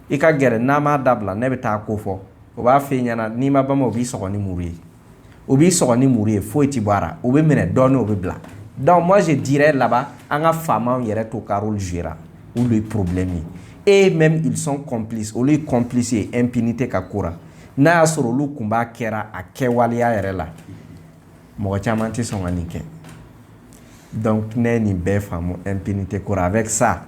[SPEAKER 2] i ka gɛrɛ n'a m'a dabila ne bɛ taa ko fɔ o b'a fɔ i ɲɛna n'i ma bama o b'i sɔgɔ ni muru ye o b'i sɔgɔ ni muru ye foyi tɛ bɔ a la o bɛ minɛ dɔɔni o bɛ bila donc moi je dirais là-bas an ka faamaw yɛrɛ t'o ka rôle jouer olu ye problème ye et même ils sont complices olu ye complice ye impunité ka ko n'a y'a sɔrɔ olu kun b'a kɛra a kɛwaleya yɛrɛ la mɔgɔ caman tɛ sɔn ka nin kɛ donc ne ye nin bɛɛ faamu impunité ko ra avec ça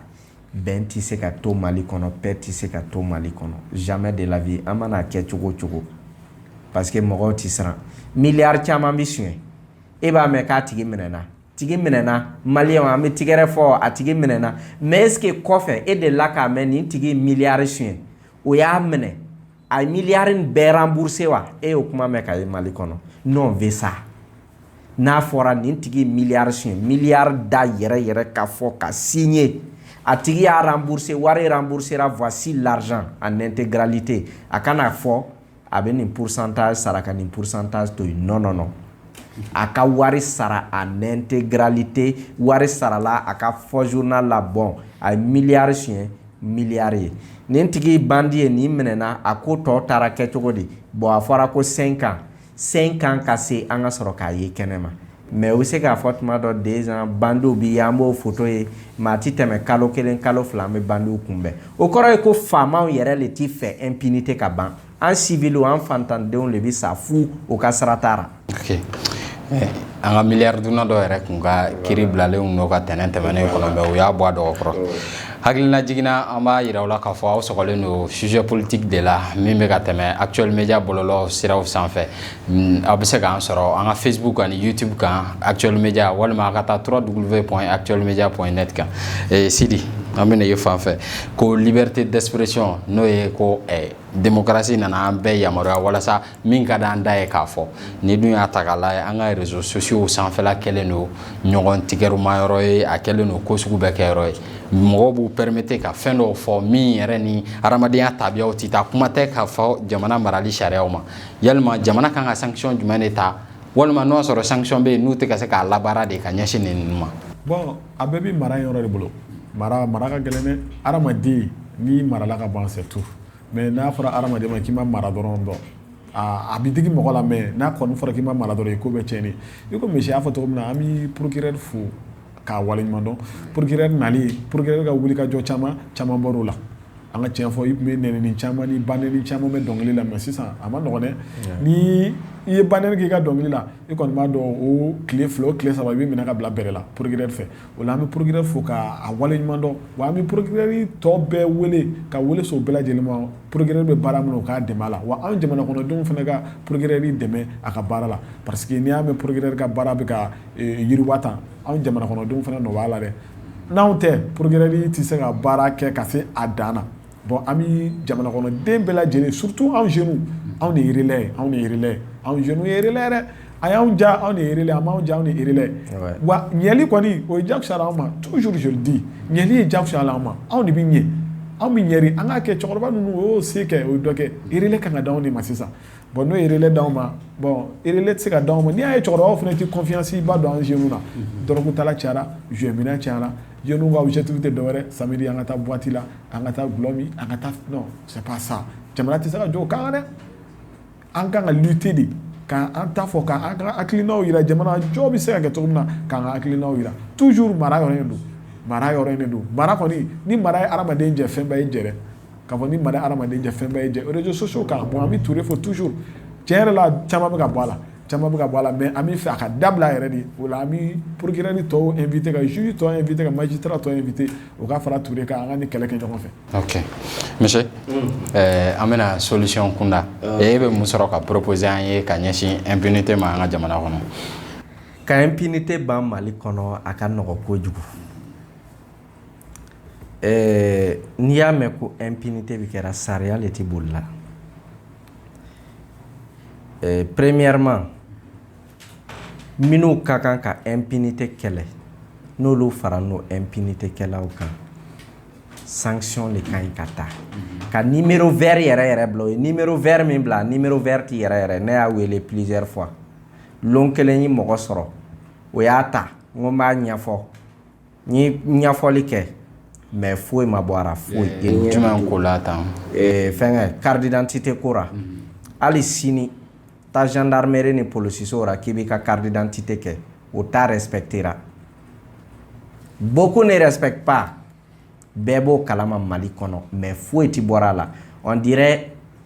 [SPEAKER 2] bɛn tɛ se ka to Mali kɔnɔ paix tɛ se ka to Mali kɔnɔ jamais de la vie an mana kɛ cogo o cogo parce que mɔgɔw tɛ siran miliyari caman bɛ suɲɛ e b'a mɛn k'a tigi minɛna tigi minɛna maliyɛnw an bɛ tigɛrɛ fɔ a tigi minɛna mais est ce que kɔfɛ e delila k'a mɛn nin tigi miliyari suɲɛ o y'a minɛ a ye miliyari in bɛɛ rembourser wa e y'o kuma mɛn ka ye mali kɔnɔ non on veut ça n'a fɔra nin tigi miliyari suɲɛ miliyari da yɛrɛ yɛrɛ ka fɔ ka signer a tigi y'a rembourser wari remboursera voici l'argent en intégralité a kana fɔ a bɛ nin pourcentage sara ka nin pourcentage to yen non non non a ka wari sara en intégralité wari sarala a k'a fɔ journal la bon a ye miliyari suɲɛ miliyari ye nin tigi bandi ye nin minɛna a ko tɔ taara kɛ cogo di bon a fɔra ko cinq ans cinq ans ka se an ka sɔrɔ k'a ye kɛnɛ ma Mais u bɛ se k'a fɔ tuma dɔ deux ans bandiw bɛ yan an b'o photo ye mais a tɛ tɛmɛ kalo kelen kalo fila an bɛ bandiw kunbɛn o kɔrɔ ye ko faamaw yɛrɛ de tɛ fɛ impunité ka ban an civil an faantandenw de bɛ sa fu o ka sira t'a la
[SPEAKER 1] an ka miliyari dunna dɔw yɛrɛ tun ka kiri bilalen ka tɛnɛn tɛmɛnen kɔnɔ u y'a bɔ a dɔgɔ kɔrɔ hakilina jiginna an b'a jira aw la k'a fɔ aw sɔgɔlen don sujet politique de la min bɛ ka tɛmɛ actuel media bɔlɔlɔ siraw sanfɛ Mm, aw bɛ se k'an sɔrɔ an ka facebook ani youtube kan actuel media walima a ka taa www point actuel media point net kan eh, Sidi an bɛna ye fan fɛ ko liberté d'expression n'o ye ko eh, démocratie nana an bɛɛ yamaruya walasa min ka d'an da ye k'a fɔ n'i dun y'a ta k'a lajɛ an ka réseaux sociaux sanfɛla kɛlen don ɲɔgɔn tigɛruma yɔrɔ ye a kɛlen don ko sugu bɛɛ kɛ yɔrɔ ye mɔgɔw b'u permettre ka fɛn dɔw fɔ min yɛrɛ ni hadamadenya tabiyaw tɛ taa kuma tɛ k'a fɔ jamana marali sariyaw ma yalima jamana kan ka sanction jumɛn de ta walima n'o sɔrɔ sanction bɛ yen n'u tɛ ka se k'a labaara de ka ɲɛsin ninnu ma bon a bɛɛ bɛ
[SPEAKER 3] mara yɔrɔ de bolo mara mara ka gɛlɛn dɛ adamaden n'i marala ka ban c'est tout mais n'a fɔra adamaden ma k'i ma mara dɔrɔn dɔn a bɛ digi mɔgɔ la mais n'a kɔni fɔra k'i ma mara dɔrɔn i ko bɛɛ cɛnni i ko misi y'a fɔ cogo min na an bɛ procureur fo k'a waleɲumandɔn procureur nalen procureur ka wuli ka jɔ caman caman bɔr'o la an ka cɛn fɔ i tun bɛ nenini caman ni ba neni caman bɛ dɔnkili la mais sisan a man nɔgɔ dɛ ni i ye ba neni k'i ka dɔnkili la i kɔni b'a dɔn o tile fila o tile saba i bɛ minɛ ka bila bɛrɛ la procureur fɛ o la an bɛ procureur fo k'a waleɲumandɔn wa an bɛ procureur tɔ bɛɛ wele ka wele so bɛɛ lajɛlen ma procureur bɛ baara min na o k'a dɛmɛ a la wa an jamana kɔnɔdenw fana ka procureur dɛmɛ a ka baara la parce que n'i y'a mɛn procureur ka baara bɛ yiriwa tan anw jamana kɔnɔdenw fana nɔ b'a la dɛ n'anw tɛ procureur tɛ se ka baara kɛ ka se a dan na bon an bɛ jamana kɔnɔden bɛɛ lajɛlen surtout anw jeunes anw de ye relais anw de ye relais anw jeunes ye relais a y'an ja anw de ye relais a m'an ja anw de ye relais wa ɲɛli kɔni o ye jagoya anw ma toujours je le dis ɲɛli ye jagoya anw ma anw de bɛ ɲɛ anw bɛ ɲɛ an ka kɛ cɛkɔrɔba ninnu o y'o se kɛ o ye dɔ kɛ relais kan ka di anw de ma sisan bon n'o ye relais d'anw ma bon relais tɛ se ka di anw ma n'i y'a ye cɛkɔrɔbaw fana tɛ confiance ba don an jeunes na dɔrɔgu tala cayara joint minna cayara jeunes ka objectif tɛ dɔwɛrɛ samedi an ka taa boîte la an ka taa dulɔ min an ka taa non c'est pas ça jamana tɛ se ka jɔ o kan dɛ an kan ka lutter de k'an ta fɔ k'an ka hakilinaw jira jamana jɔ bɛ se ka kɛ cogo min na k'an ka hakilinaw jira toujours mara yɔrɔ don mara yɔrɔ don mara kɔni ni mara ye hadamaden jɛ fɛnba y'i jɛ dɛ k'a fɔ ni mara hadamaden jɛ fɛn bɛɛ ye jɛ réseaux sociaux kan bon an bɛ ture fɔ toujours tiɲɛ yɛrɛ la caman bɛ ka bɔ a la caman bɛ ka bɔ a la mais an bɛ fɛ a ka dabila yɛrɛ de o la an bɛ procureur ni tɔw inviter ka juge tɔw inviter ka magistrat tɔw inviter o ka fara ture kan an ka nin kɛlɛ kɛ ɲɔgɔn fɛ
[SPEAKER 1] monsieur an bɛ na solution kunda e bɛ mun sɔrɔ ka proposer an ye ka ɲɛsin impunité ma an ka jamana kɔnɔ ka
[SPEAKER 2] impunité ban mali kɔnɔ a ka nɔgɔ kojugu ɛɛ n'i y'a mɛn ko impunité bɛ kɛra sariya le tɛ bolila ɛɛ premièrement minnu ka kan ka impunité kɛlɛ n'olu fara n'o impunité kɛlaw kan sanction le ka ɲi ka ta ka numéro vert yɛrɛ yɛrɛ bila numéro vert min bila numéro vert tɛ yɛrɛ yɛrɛ ne y'a wele plusieurs fois lon kelen ye mɔgɔ sɔrɔ o y'a ta n ko n b'a ɲɛfɔ N ye ɲafɔli kɛ mɛ foyi ma bɔ ara foyi jama ko la
[SPEAKER 1] tan fɛnkɛ
[SPEAKER 2] karidte tɛ ko hali sini taazdare ni psiso k'i b'i ka karidte tɛ kɛ o taara yɛrɛre bɔ ko ne yɛrɛ pan bɛɛ b'o kalama mali kɔnɔ mɛ foyi tɛ bɔra a la di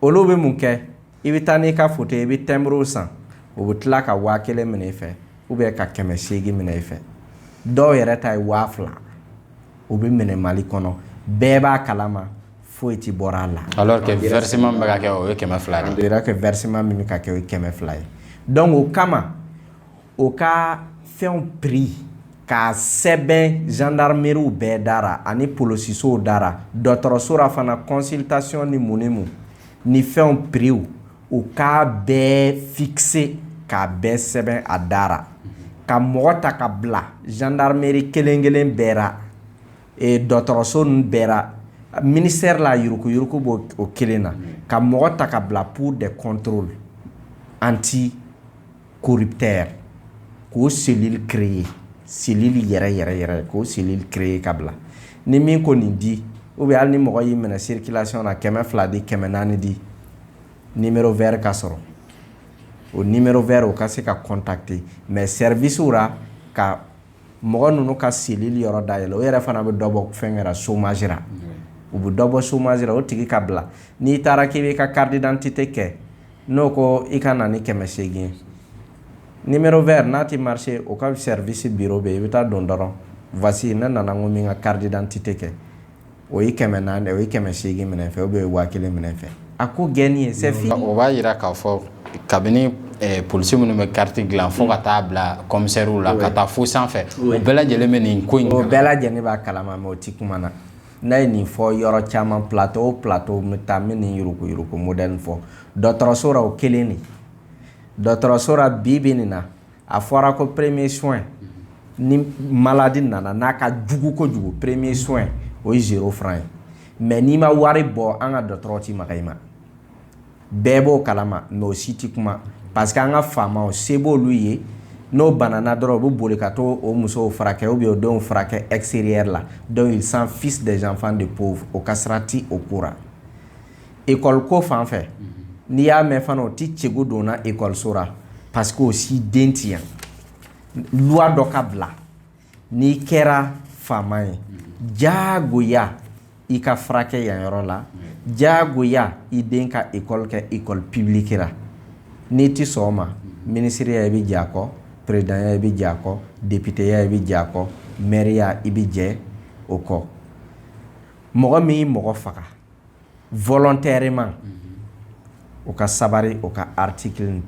[SPEAKER 2] olu bɛ mun kɛ i bɛ taa n'i ka foto ye i bɛ tɛnburu san o bɛ tila ka waa kelen minɛ i fɛ ou bien ka kɛmɛ seegin minɛ i fɛ dɔw yɛrɛ ta ye waa fila o bɛ minɛ mali kɔnɔ bɛɛ b'a kalama foyi tɛ bɔra a la alors
[SPEAKER 1] que versement bɛ kɛ o ye kɛmɛ fila ye que versement
[SPEAKER 2] min bɛ ka kɛ o ye kɛmɛ fila ye dɔnku o kama o ka fɛnw prix k'a sɛbɛn zandarimeriw bɛɛ dara ani polosisow dara dɔgɔtɔrɔsora fana consultation ni mun ni mun ni fɛnw prix u k'a bɛɛ fixer k'a bɛɛ sɛbɛn a dara ka mɔgɔ ta ka bila zandarimeri kelen kelen bɛɛra e, dɔgɔtɔrɔso ninnu bɛɛra ministère la yurukuyuruku b'o o kelen na ka mɔgɔ ta ka bila pour des contrôles anti kori tɛ k'o seli kire ye seli yɛrɛ yɛrɛ yɛrɛ ye k'o seli kire ye ka bila ni min ko nin di u bɛ hali ni mɔgɔ y'i minɛ sirikilasiyɔn na kɛmɛ fila di kɛmɛ naani di ni wɛrɛ ka sɔrɔ o ni wɛrɛ o ka se ka kɔntate mɛ sɛrisira ka mɔgɔ ninnu ka cellule yɔrɔ dayɛlɛ o yɛrɛ fana bɛ dɔ bɔ fɛnkɛ ra chômage ra u bɛ dɔ bɔ chômage ra o tigi ka bila n'i taara k'i b'i ka carte d'identité kɛ n'o ko i ka na ni kɛmɛ seegin ye numéro vert n'a tɛ marcher o ka service bureau bɛ yen i bɛ taa don dɔrɔn voici ne nana ko n bɛ n ka carte d'identité kɛ o ye kɛmɛ naani o ye kɛmɛ segin minɛ fɛ o bɛ waa kelen minɛ fɛ a ko gɛnni ye sefini o b'a yira k'a
[SPEAKER 1] fɔ kabini polisi minnu bɛ kariti dilan fo ka taa bila kɔmisɛriw la ka taa fo sanfɛ o bɛɛ lajɛlen bɛ nin ko in o bɛɛ lajɛlen
[SPEAKER 2] b'a kalama mɛ o ti kuma na n'a ye nin fɔ yɔrɔ caman plato o plato n bɛ taa n bɛ nin yuruguyurugu modɛli nin fɔ dɔtɔrɔso ra o kelen de dɔtɔrɔso ra bi bɛ nin na a fɔra ko premier soin ni malade nana n'a ka jugu kojugu premier soin o ye zéro franc ye mais n'i ma wari bɔ an ka dɔgɔtɔrɔ ti maga i ma bɛɛ b'o kalama mais o si ti kuma parce que an ka faamaw se b'olu ye n'o banana dɔrɔn u bɛ boli ka taa o musow furakɛ ou bien o denw furakɛ extérieur la donc ils s'en fichent des enfants de pauvres o ka sira ti o ko ra ekɔliko fan fɛ n'i y'a mɛn fana o ti cɛko donna ekɔliso la parce que o si den ti yan luwa dɔ ka bila n'i kɛra faama ye jagoya i ka furakɛ yan yɔrɔ la jagoya i den ka ekɔli kɛ ekɔli pibiliki la n'i ti sɔn o ma minisiriya i bɛ jɛ a kɔ peresidanya i bɛ jɛ a kɔ depiteya i bɛ jɛ a kɔ mɛriya i bɛ jɛ o kɔ mɔgɔ min ye mɔgɔ faga volontairement o ka sabari o ka article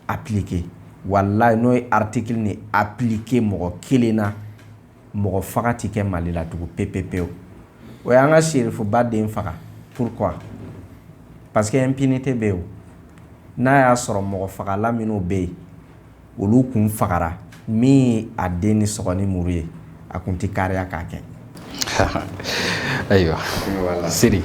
[SPEAKER 2] appliquer walayi n'o ye article nin appliquer mɔgɔ kelen na mɔgɔ faga tɛ kɛ mali la tugun pepepewu o y'an ka serifuba den faga pourquoi parce que impunité bɛ yen n'a y'a sɔrɔ mɔgɔ fagala minnu bɛ yen olu kun fagara min a den ni sɔgɔ ni muru ye a kun ti kariya k'a
[SPEAKER 1] kɛ ayiwa siri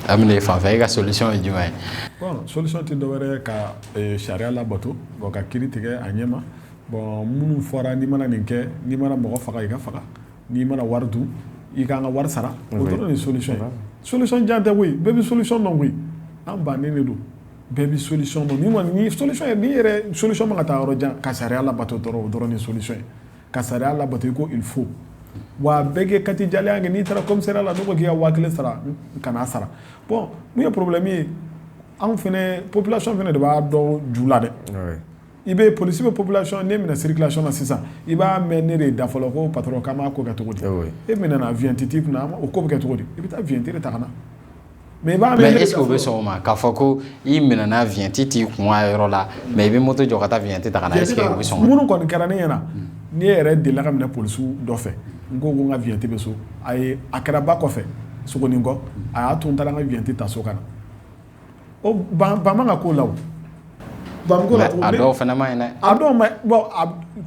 [SPEAKER 1] a bɛ fan fɛ e ka solution ye jumɛn ye solution tɛ
[SPEAKER 3] dɔwɛrɛ ka sariya labato ka kiri tigɛ a ɲɛma bon minnu fɔra n'i mana nin kɛ n'i mana mɔgɔ faga i ka faga n'i mana wari dun i k'an ka wari sara o dɔrɔn de solution ye solution jan tɛ koyi bɛɛ bɛ solution dɔn koyi an bannen de don bɛɛ bɛ solution dɔn min kɔni ye solution ye ne yɛrɛ solution man ka taa yɔrɔ jan ka sariya labato dɔrɔn o dɔrɔn de ye solution ye ka sariya labato i ko il faut wa bɛɛ k'i katigɛlɛnya kɛ n'i taara commissariat la n'u ko k'i ka waa kelen sara kan'a sara bon mun ye problème ye anw fɛnɛ population fɛnɛ de b'a dɔn ju la dɛ i bɛ police bɛ population n'e minɛna circulation na sisan i b'a mɛn e de da fɔlɔ ko patron k'an b'a ko kɛ cogo di e minɛna vignette t'i kunna o ko bɛ kɛ cogo di i bɛ taa vignette de ta ka na mɛ ɛsike o bɛ sɔn o ma k'a fɔ ko
[SPEAKER 1] i minɛna viɲɛti t'i kun a yɔrɔ la mɛ i bɛ moto jɔ ka taa viɲɛti ta ka na minnu kɔni kɛra ne ɲɛna
[SPEAKER 3] ne yɛrɛ delila ka minɛ polisiw dɔ fɛ n ko ko n ka viɲɛti bɛ so a ye a kɛra ba kɔfɛ sogoninkɔ a y'a to n taara n ka viɲɛti ta so ka na o bɛɛ man kan ko la
[SPEAKER 1] a dɔw fana man ɲi dɛ a dɔw bon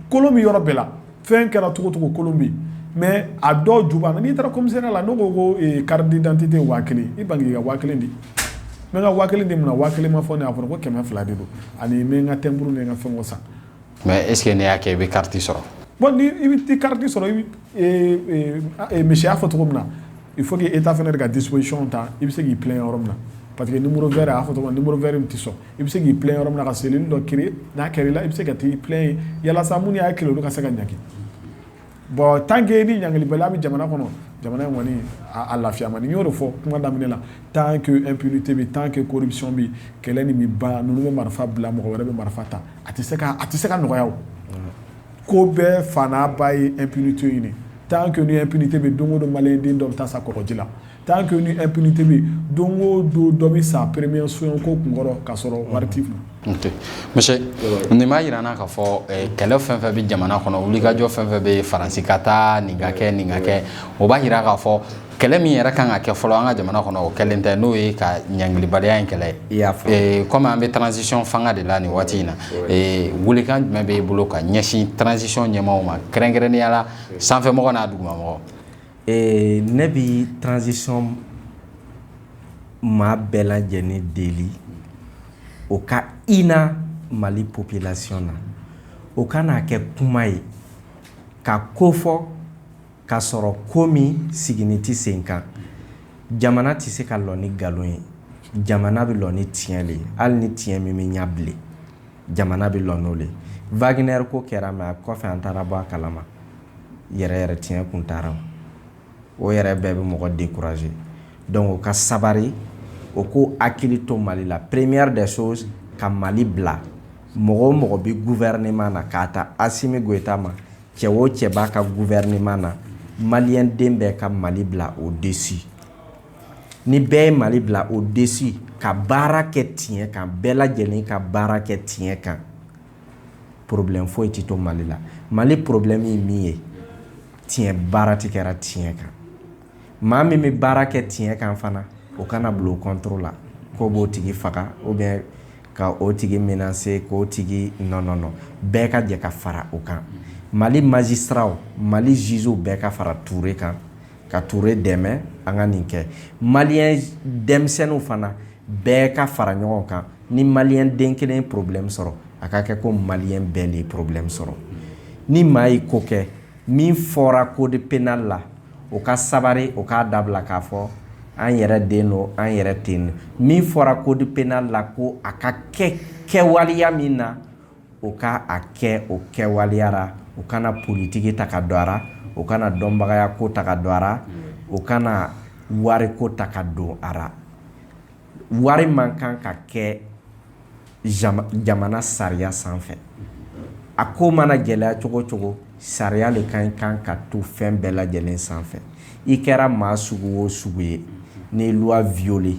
[SPEAKER 3] kolon bɛ yɔrɔ bɛɛ la fɛn kɛra cogo cogo kolon bɛ yen mais a dɔw juba n'i taara commissariat la n'o ko ko carte d'identité waa kelen i ban ka waa kelen di n ka waa kelen di mun na waa kelen ma fɔ a fɔra ko kɛmɛ fila de don ani n ka timbre n ka fɛn san mais est-ce que
[SPEAKER 1] n'e y'a kɛ i bɛ carte sɔrɔ bon i
[SPEAKER 3] bɛ carte sɔrɔ monsieur y'a fɔ cogo min na il faut que État fana de ka disposition ta i bɛ se k'i plaindre yɔrɔ min na parce que numéro vert a fɔ cogo numéro vert in tɛ sɔn i bɛ se k'i plaindre yɔrɔ min na ka cellule dɔ créer n'a kɛra i la i bɛ se ka taa i plaindre yen yalasa min y'a kɛ i la olu ka se ka ɲangi bon tant que ni ɲangilibaliya bɛ jamana kɔnɔ jamana in kɔni a lafiya man di n y'o de fɔ kuma daminɛ la tant que impunité bɛ tant que corruption bɛ kɛlɛ nin bɛ ban ninnu bɛ marifa bila mɔgɔ wɛrɛ bɛ marifa ta a tɛ se ka nɔgɔya ko bɛɛ fa n'a ba ye impunité nin ye tant que ni impunité bɛ don o don maliyɛn den dɔ bɛ taa sa kɔgɔji la Tant que ni impunité bɛ don o don dɔ bɛ sa premier soin ko kunkɔrɔ k'a sɔrɔ wari t'i
[SPEAKER 1] kun nin b'a jira an na k'a fɔ kɛlɛ fɛn fɛn bɛ jamana kɔnɔ wulikajɔ fɛn fɛn bɛ faransi ka taa nin ka kɛ nin ka kɛ o b'a jira k'a fɔ kɛlɛ min yɛrɛ kan ka kɛ fɔlɔ an ka jamana kɔnɔ o kɛlen tɛ n'o ye ka ɲangilibaliya in kɛlɛ ye kɔmi an bɛ transition fanga de la nin waati in na welekan jumɛn b'e bolo ka ɲɛsin transition ɲɛmaaw ma kɛrɛnkɛrɛnnenya la sanfɛmɔgɔ n'a dugumamɔgɔ
[SPEAKER 2] Ee ne bɛ transition maa bɛɛ lajɛlen deli o ka hinɛ mali population na o kana kɛ kuma ye ka ko fɔ k'a sɔrɔ ko min sigini tɛ sen kan jamana tɛ se ka lɔ ni nkalon ye jamana bɛ lɔ ni tiɲɛ le ye hali ni tiɲɛ min bɛ ɲɛ bilen jamana bɛ lɔ n'o le ye Wagner ko kɛra mais a kɔfɛ an taara bɔ a kalama yɛrɛ yɛrɛ tiɲɛ kun t'a ra o yɛrɛ bɛɛ bɛ mɔgɔ décourager donc o ka sabari o k'o hakili to mali la première des choses ka mali bila mɔgɔ o mɔgɔ bɛ gouvernement na k'a ta Assimi Goïta ma cɛ o cɛ b'a ka gouvernement na maliyɛn den bɛɛ ka mali bila au-dessus ni bɛɛ ye mali bila au-dessus ka baara kɛ tiɲɛ kan bɛɛ lajɛlen ka baara kɛ tiɲɛ kan problème foyi tɛ to mali la mali problème ye min ye tiɲɛ baara tɛ kɛra tiɲɛ kan maa min bɛ baara kɛ tiɲɛ kan fana o kana bila o contre la k'o b'o tigi faga ou bien ka o tigi menacer k'o tigi non bɛɛ ka jɛ ka fara o kan mali magistratw mali jugew bɛɛ ka fara Ture kan ka Ture dɛmɛ an ka nin kɛ maliyɛn denmisɛnninw fana bɛɛ ka fara ɲɔgɔn kan ni maliyɛn den kelen ye problème sɔrɔ a ka kɛ ko maliyɛn bɛɛ le ye problème sɔrɔ ni maa ye ko kɛ min fɔra code pénal la o ka sabari o k'a dabila k'a fɔ an yɛrɛ den don an yɛrɛ ten min fɔra code pénal la ko a ka kɛ kɛwaleya min na o ka a kɛ o kɛwaleya ra u kana politiki ta ka don a ra u kana dɔnbagayako ta ka don a ra u kana wariko ta ka don a ra wari man kan ka kɛ jamana sariya sanfɛ a ko mana gɛlɛya cogo cogo sariya le ka kan ka to fɛn bɛɛ lajɛlen sanfɛ i kɛra maa sugu o sugu ye n'i loi violé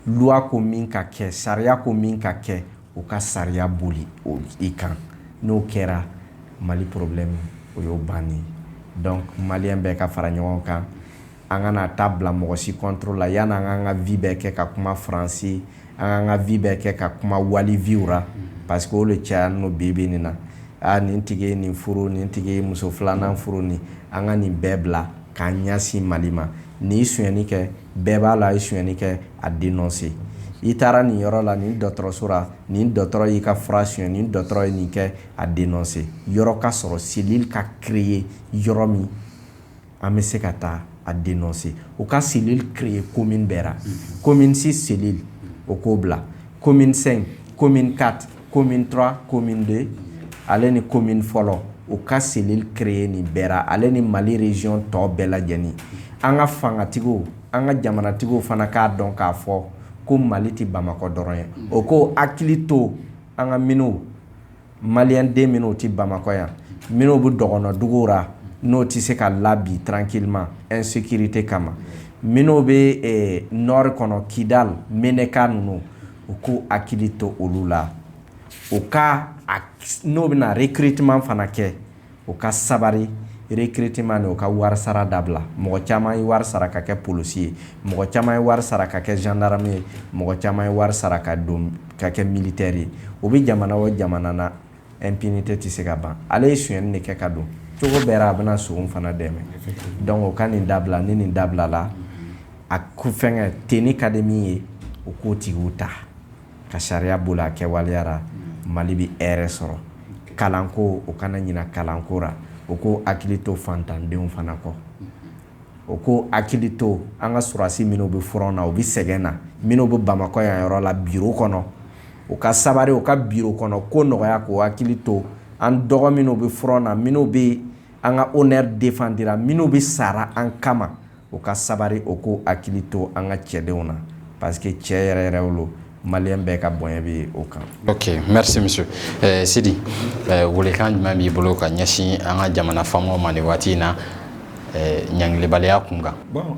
[SPEAKER 2] loi ko min ka kɛ sariya ko min ka kɛ u ka sariya boli i kan n'o kɛra mali problème o y'o bannen donc malien bɛɛ ka fara ɲɔgɔn kan an kana taa bila mɔgɔ si contrôle la yanni an k'an ka vie bɛɛ kɛ ka kuma faransi an k'an ka vie bɛɛ kɛ ka kuma wali vie ra parce que o le cayanin lo bi bi nin na aa nin tigi ye nin furu nin tigi ye muso filanan furu nin an ka nin bɛɛ bila k'an ɲɛsin mali ma n'i sonyɛni kɛ bɛɛ b'a la a ye suyni kɛ a den nɔ se i taara nin yɔrɔ la ni dɔgɔtɔrɔsora ni dɔgɔtɔrɔ y'i ka fura suyɛn ni dɔgɔtɔrɔ ye nin kɛ a den nɔ se yɔrɔ ka sɔrɔ seli ka kire ye yɔrɔ min an bɛ se ka taa a den nɔ se u ka seli kire ye ko min bɛɛ ko min si seli o k'o bila ko minsɛn ko min ka commune trois commune deux ale ni commune fɔlɔ u ka cellule créer nin bɛɛ ra ale ni mali région tɔ bɛɛ lajɛlen an ka fangatigiw an ka jamanatigiw fana k'a dɔn k'a fɔ ko mali tɛ bamakɔ dɔrɔn ye o k'o hakili to an ka minnu maliyɛnden minnu tɛ bamakɔ yan minnu bɛ dɔgɔnɔdugu ra n'o tɛ se ka la bi tranquillement insécurité kama minnu bɛ nord kɔnɔ Kidal Menaka ninnu u k'u hakili to olu la u ka n'o bɛna recrutement fana kɛ u ka sabari recrutement nin u ka wari sara dabila mɔgɔ caman ye wari sara ka kɛ polisi ye mɔgɔ caman ye wari sara ka kɛ gendarme ye mɔgɔ caman ye wari sara ka don ka kɛ militɛri ye o bɛ jamana o jamana na impunité tɛ se ka ban ale ye sonyɛni de kɛ ka don cogo bɛɛ ra a bɛna son fana dɛmɛ donc o ka nin dabila ni nin dabilala a ko fɛnkɛ tenni ka di min ye o k'o tigiw ta ka sariya boli a kɛwaleya ra mali bɛ hɛrɛ sɔrɔ kalanko o kana ɲina kalanko ra o k'o hakili to fantandenw fana kɔ o k'o hakili to an ka sɔrɔdasi minnu bɛ front na u bɛ sɛgɛn na minnu bɛ Bamakɔ yan yɔrɔ la bureau kɔnɔ u ka sabari u ka bureau kɔnɔ ko nɔgɔya k'u hakili to an dɔgɔ minnu bɛ front na minnu bɛ an ka honneur défendre ra minnu bɛ sa ra an kama u ka sabari u k'u hakili to an ka cɛdenw na parce que cɛ yɛrɛ yɛrɛw don. malien bɛɛ ka bonya bɛ o
[SPEAKER 1] kan ok merci monsieur sidi welekan jumɛn b'i bolo ka ɲɛsin an ka jamana faamaw ma nin waati in na ɲangilibaliya kun kan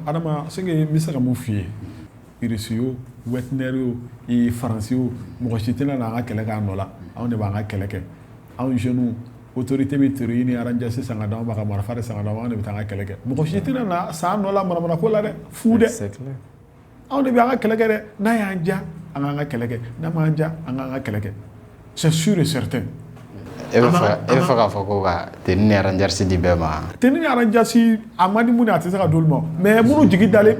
[SPEAKER 1] adama ce
[SPEAKER 3] que n bɛ se ka min f'i ye irisi o wagner o faransi o mɔgɔ si tɛna n'an ka kɛlɛ k'an nɔ la anw de b'an ka kɛlɛ kɛ anw jeunes autorité bɛ tenue ni aranjasi san ka d'anw ma ka marifa san ka d'anw ma anw de bɛ taa an ka kɛlɛ kɛ mɔgɔ si tɛna na s'an nɔ la manamana ko la dɛ fu dɛ anw de bɛ an ka kɛlɛ kɛ dɛ n'a y'an ja an k'an ka kɛlɛ kɛ n'a m'an ja an k'an ka kɛlɛ kɛ c'est sûr et
[SPEAKER 1] certain e bɛ fɛ k'a fɔ ko ka tenue ni aranjasi di bɛɛ ma tenue ni aranjasi
[SPEAKER 3] a man di mun a tɛ se ka d'olu ma mais minnu jigi dalen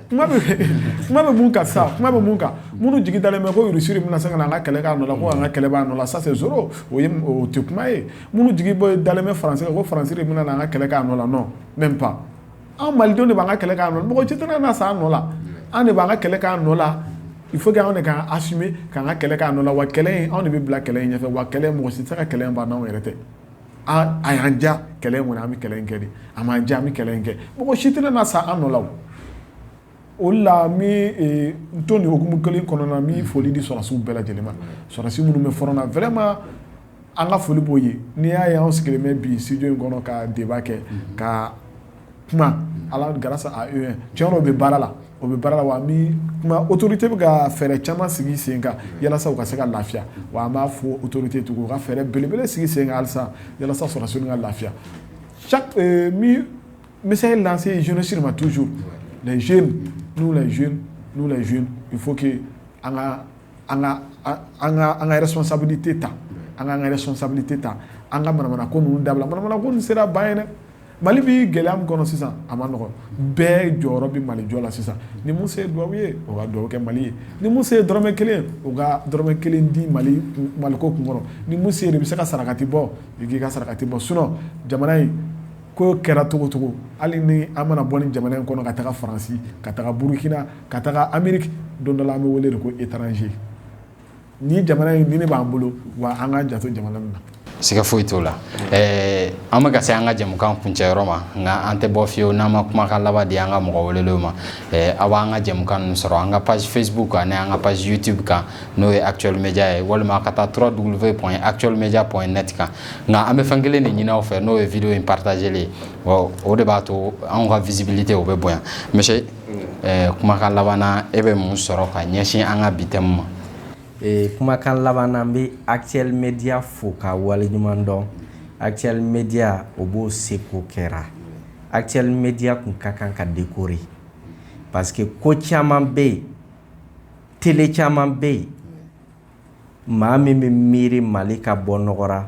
[SPEAKER 3] kuma bɛ mun kan sa kuma bɛ mun kan minnu jigi dalen bɛ ko Russie bɛna se ka na an ka kɛlɛ k'an nɔ la ko an ka kɛlɛ b'a nɔ la ça c'est zéro o ye o tɛ kuma ye minnu jigi dalen bɛ France kan ko France de bɛna na an ka kɛlɛ k'an nɔ la non même pas anw malidenw de b'an ka kɛlɛ k'an nɔ la mɔgɔ si tɛna na s'an nɔ la an de b'an ka kɛlɛ k'an nɔ la il faut que anw de k'an assumer k'an ka kɛlɛ k'an nɔ la wa kɛlɛ in anw de bɛ bila kɛlɛ in ɲɛfɛ wa kɛlɛ mɔgɔ si tɛ se ka kɛlɛ in ban n'anw yɛrɛ tɛ aaa a y'an ja kɛlɛ in kɔni an bɛ kɛlɛ in kɛ dɛ a m'an ja an bɛ kɛlɛ in kɛ mɔgɔ si tɛna na sa an nɔ la o la n bɛ to nin hukumu kelen kɔnɔna na n bɛ foli di sɔrɔsiw bɛɛ lajɛlen ma sɔrɔsi minnu bɛ front na An ka foli b'o ye n'i y'a ye anw sigilen bɛ bi studio in kɔnɔ ka débat kɛ ka kuma Ala grâce à eux tiɲɛ don u bɛ baara la u bɛ baara la wa an bɛ kuma autorité bɛ ka fɛɛrɛ caman sigi sen kan walasa u ka se ka lafiya wa an b'a fɔ autorité ye tugun u ka fɛɛrɛ belebele sigi sen kan halisa walasa sɔrɔdasi ninnu ka lafiya chaque n bɛ message lancer jeunesse ma toujours les jeunes nous les jeunes nous les jeunes il faut que an ka an ka responsabilité ta an ka responsabilité ta an ka manamana ko ninnu dabila manamana ko nin sera ban ye dɛ mali bɛ gɛlɛya min kɔnɔ sisan a man nɔgɔn bɛɛ jɔyɔrɔ bɛ mali jɔ la sisan ni min se ye duwawu ye o ka duwawu kɛ mali ye ni min se ye dɔrɔmɛ kelen o ka dɔrɔmɛ kelen di mali mali ko kun kɔrɔ ni min de bɛ se ka sarakati bɔ i k'i ka sarakati bɔ sinon jamana in ko kɛra cogo o cogo hali ni an mana bɔ nin jamana in kɔnɔ ka taa faransi ka taa burukina ka taga ameriki don dɔ la an bɛ wele de ko étranger nin jamana in de b'an bolo wa an ka janto jamana in na siga foyi t'o la
[SPEAKER 1] ɛɛ an bɛ ka se an ka jɛmukan kuncɛyɔrɔ ma nka an tɛ bɔ fiyewu n'an ma kumakan laban di an ka mɔgɔ welelenw ma ɛɛ aw b'an ka jɛmukan ninnu sɔrɔ an ka page facebook ani an ka page youtube kan n'o ye actuel media ye walima ka taa www point actuel media point net kan nka an bɛ fɛn kelen de ɲini aw fɛ n'o ye video in partageli ye o de b'a to anw ka visibilité o bɛ bonya monsieur ɛɛ kumakan laban na e bɛ mun sɔrɔ ka ɲɛsin an ka bi thème ma? Ee
[SPEAKER 2] kumakan laban na n bɛ Actuel Media fo k'a waleɲuman dɔn. Actuel Media o b'o seko kɛra. Actuel Media kun ka kan ka décorer parce que ko caman bɛ yen, télé caman bɛ yen, maa min bɛ miiri Mali ka bɔ nɔgɔra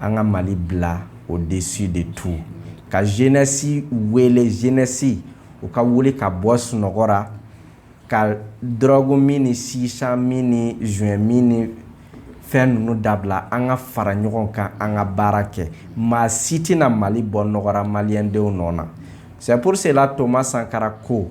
[SPEAKER 2] an ka mali bila au-dessus de tout ka jeunesse wele jeunesse u ka wuli ka bɔ sunɔgɔra ka drogue min ni chicha min ni joint min ni fɛn ninnu dabila an ka fara ɲɔgɔn kan an ka baara kɛ maa si tɛna mali bɔ nɔgɔra maliyɛndenw nɔ na c'est pour cela Thomas Sankara ko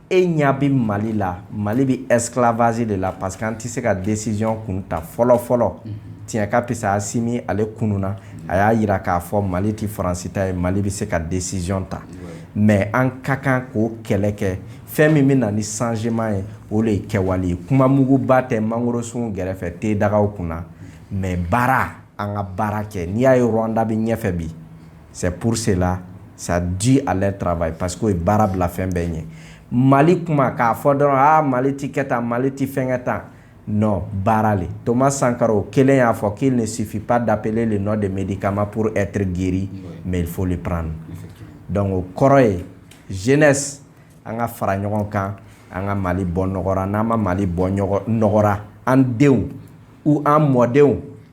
[SPEAKER 2] e ɲa bɛ mali la mali bɛ esclavage de la parce que an tɛ se ka décision kun ta fɔlɔ fɔlɔ tiɲɛ ka pisa asimi ale kununa a y'a yira k'a fɔ mali tɛ faransi ta ye mali bɛ se ka décision ta mais an ka kan k'o kɛlɛ kɛ fɛn min bɛ na ni changement ye o de ye kɛwale ye kuma muguba tɛ mangorosun gɛrɛfɛ te dagaw kunna mais baara an ka baara kɛ n'i y'a ye rwanda bɛ ɲɛfɛ bi C'est pour cela ça dû à leur travail parce que o ye baara bila fɛn bɛɛ ɲɛ Mali kuma k'a fɔ dɔrɔn aa Mali tɛ kɛ tan Mali tɛ fɛnkɛ tan non baara le Thomas Sankara o kelen y'a fɔ qu'il ne suffit pas d'appeler le nom de médicament pour être guéri mais il faut le prendre donc o kɔrɔ ye jeunesse an ka fara ɲɔgɔn kan an ka Mali bɔ nɔgɔra n'an ma Mali bɔ nɔgɔra an denw ou an mɔdenw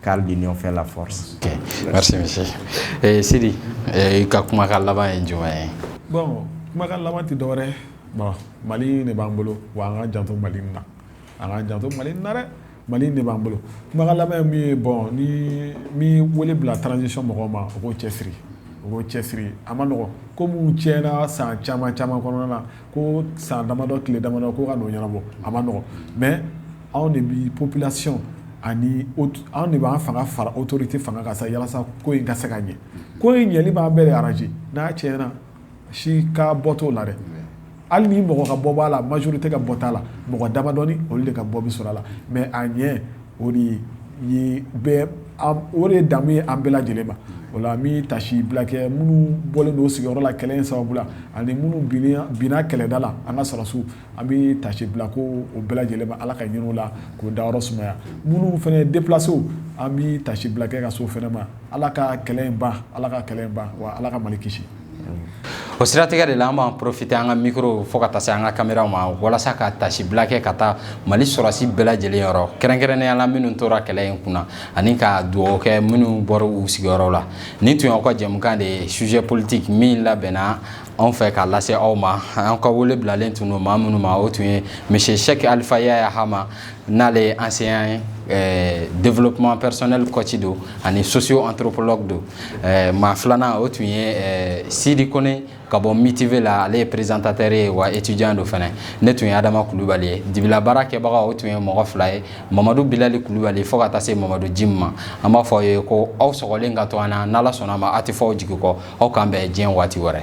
[SPEAKER 2] Car l'union fait
[SPEAKER 1] la force sidi i ka kumakan laban ye jumɛn ye bon kumakan
[SPEAKER 3] laban tɛ dɔwɛrɛ mali de b'an bolo wa an ka janto mali na an ka janto mali na dɛ mali de b'an bolo kumakan laban min ye bon ne bɛ wele bila transition mɔgɔw ma o k'o cɛsiri o k'o cɛsiri a ma nɔgɔ ko minnu tiɲɛna san caman caman kɔnɔna na ko san damadɔ tile damadɔ ko ka n'o ɲɛnabɔ a ma nɔgɔ mais anw de bɛ population ani anw de b'an fanga fara autorité fanga kan sa yalasa ko in ka se ka ɲɛ ko in ɲɛli b'an bɛɛ arranger n'a tiɲɛna si ka bɔ t'o la dɛ hali ni mɔgɔ ka bɔ b'a la majorité ka bɔ t'a la mɔgɔ damadɔni olu de ka bɔ bɛ sɔrɔ a la mais a ɲɛ o de o de damu ye an bɛɛ lajɛlen ma o la n bɛ tasi bila kɛ minnu bɔlen don sigiyɔrɔ la kɛlɛ in sababu la ani minnu binna kɛlɛda la an ka sɔrɔsiw An bɛ tasi bila kɛ o bɛɛ lajɛlen ma ala ka hin'u la k'o dayɔrɔ sumaya minnu fana ye déplacéw an bɛ tasi bila kɛ ka s'o fana ma ala ka kɛlɛ in ban ala ka kɛlɛ ban wa ala ka mali kisi o
[SPEAKER 1] siratigɛ de la an b'an profiter an ka micro fo ka taa se an ka caméra ma walasa ka tasi bila kɛ ka taa mali sɔrɔsi bɛɛ lajɛlen yɔrɔ kɛrɛnkɛrɛnnenya la minnu tora kɛlɛ in kunna ani ka dugawu kɛ minnu bɔra u sigiyɔrɔ la nin tun y'aw ka jɛmukan de ye sujet politique min labɛnna anw fɛ k'a lase aw ma an ka wele bilalen tun don maa minnu ma o tun ye monsieur Sɛki Alifa Yaya Hama n'ale ye enseignant ye eh, développement personnel coach don ani socio anthropologue don eh, maa filanan o tun ye eh, Sidi Kone ka bɔ MITV la ale ye présentateur ye wa étudiant don fana ne tun ye Adama Kulubali ye dibila baara kɛbaga o tun ye mɔgɔ fila ye Mamadu Bilali Kulubali fo ka taa se Mamadu Jim ma an b'a fɔ aw ye ko aw sɔgɔlen ka to an na n'Ala sɔnna a ma aw tɛ fɔ aw jigi kɔ aw k'an bɛn diɲɛ waati wɛrɛ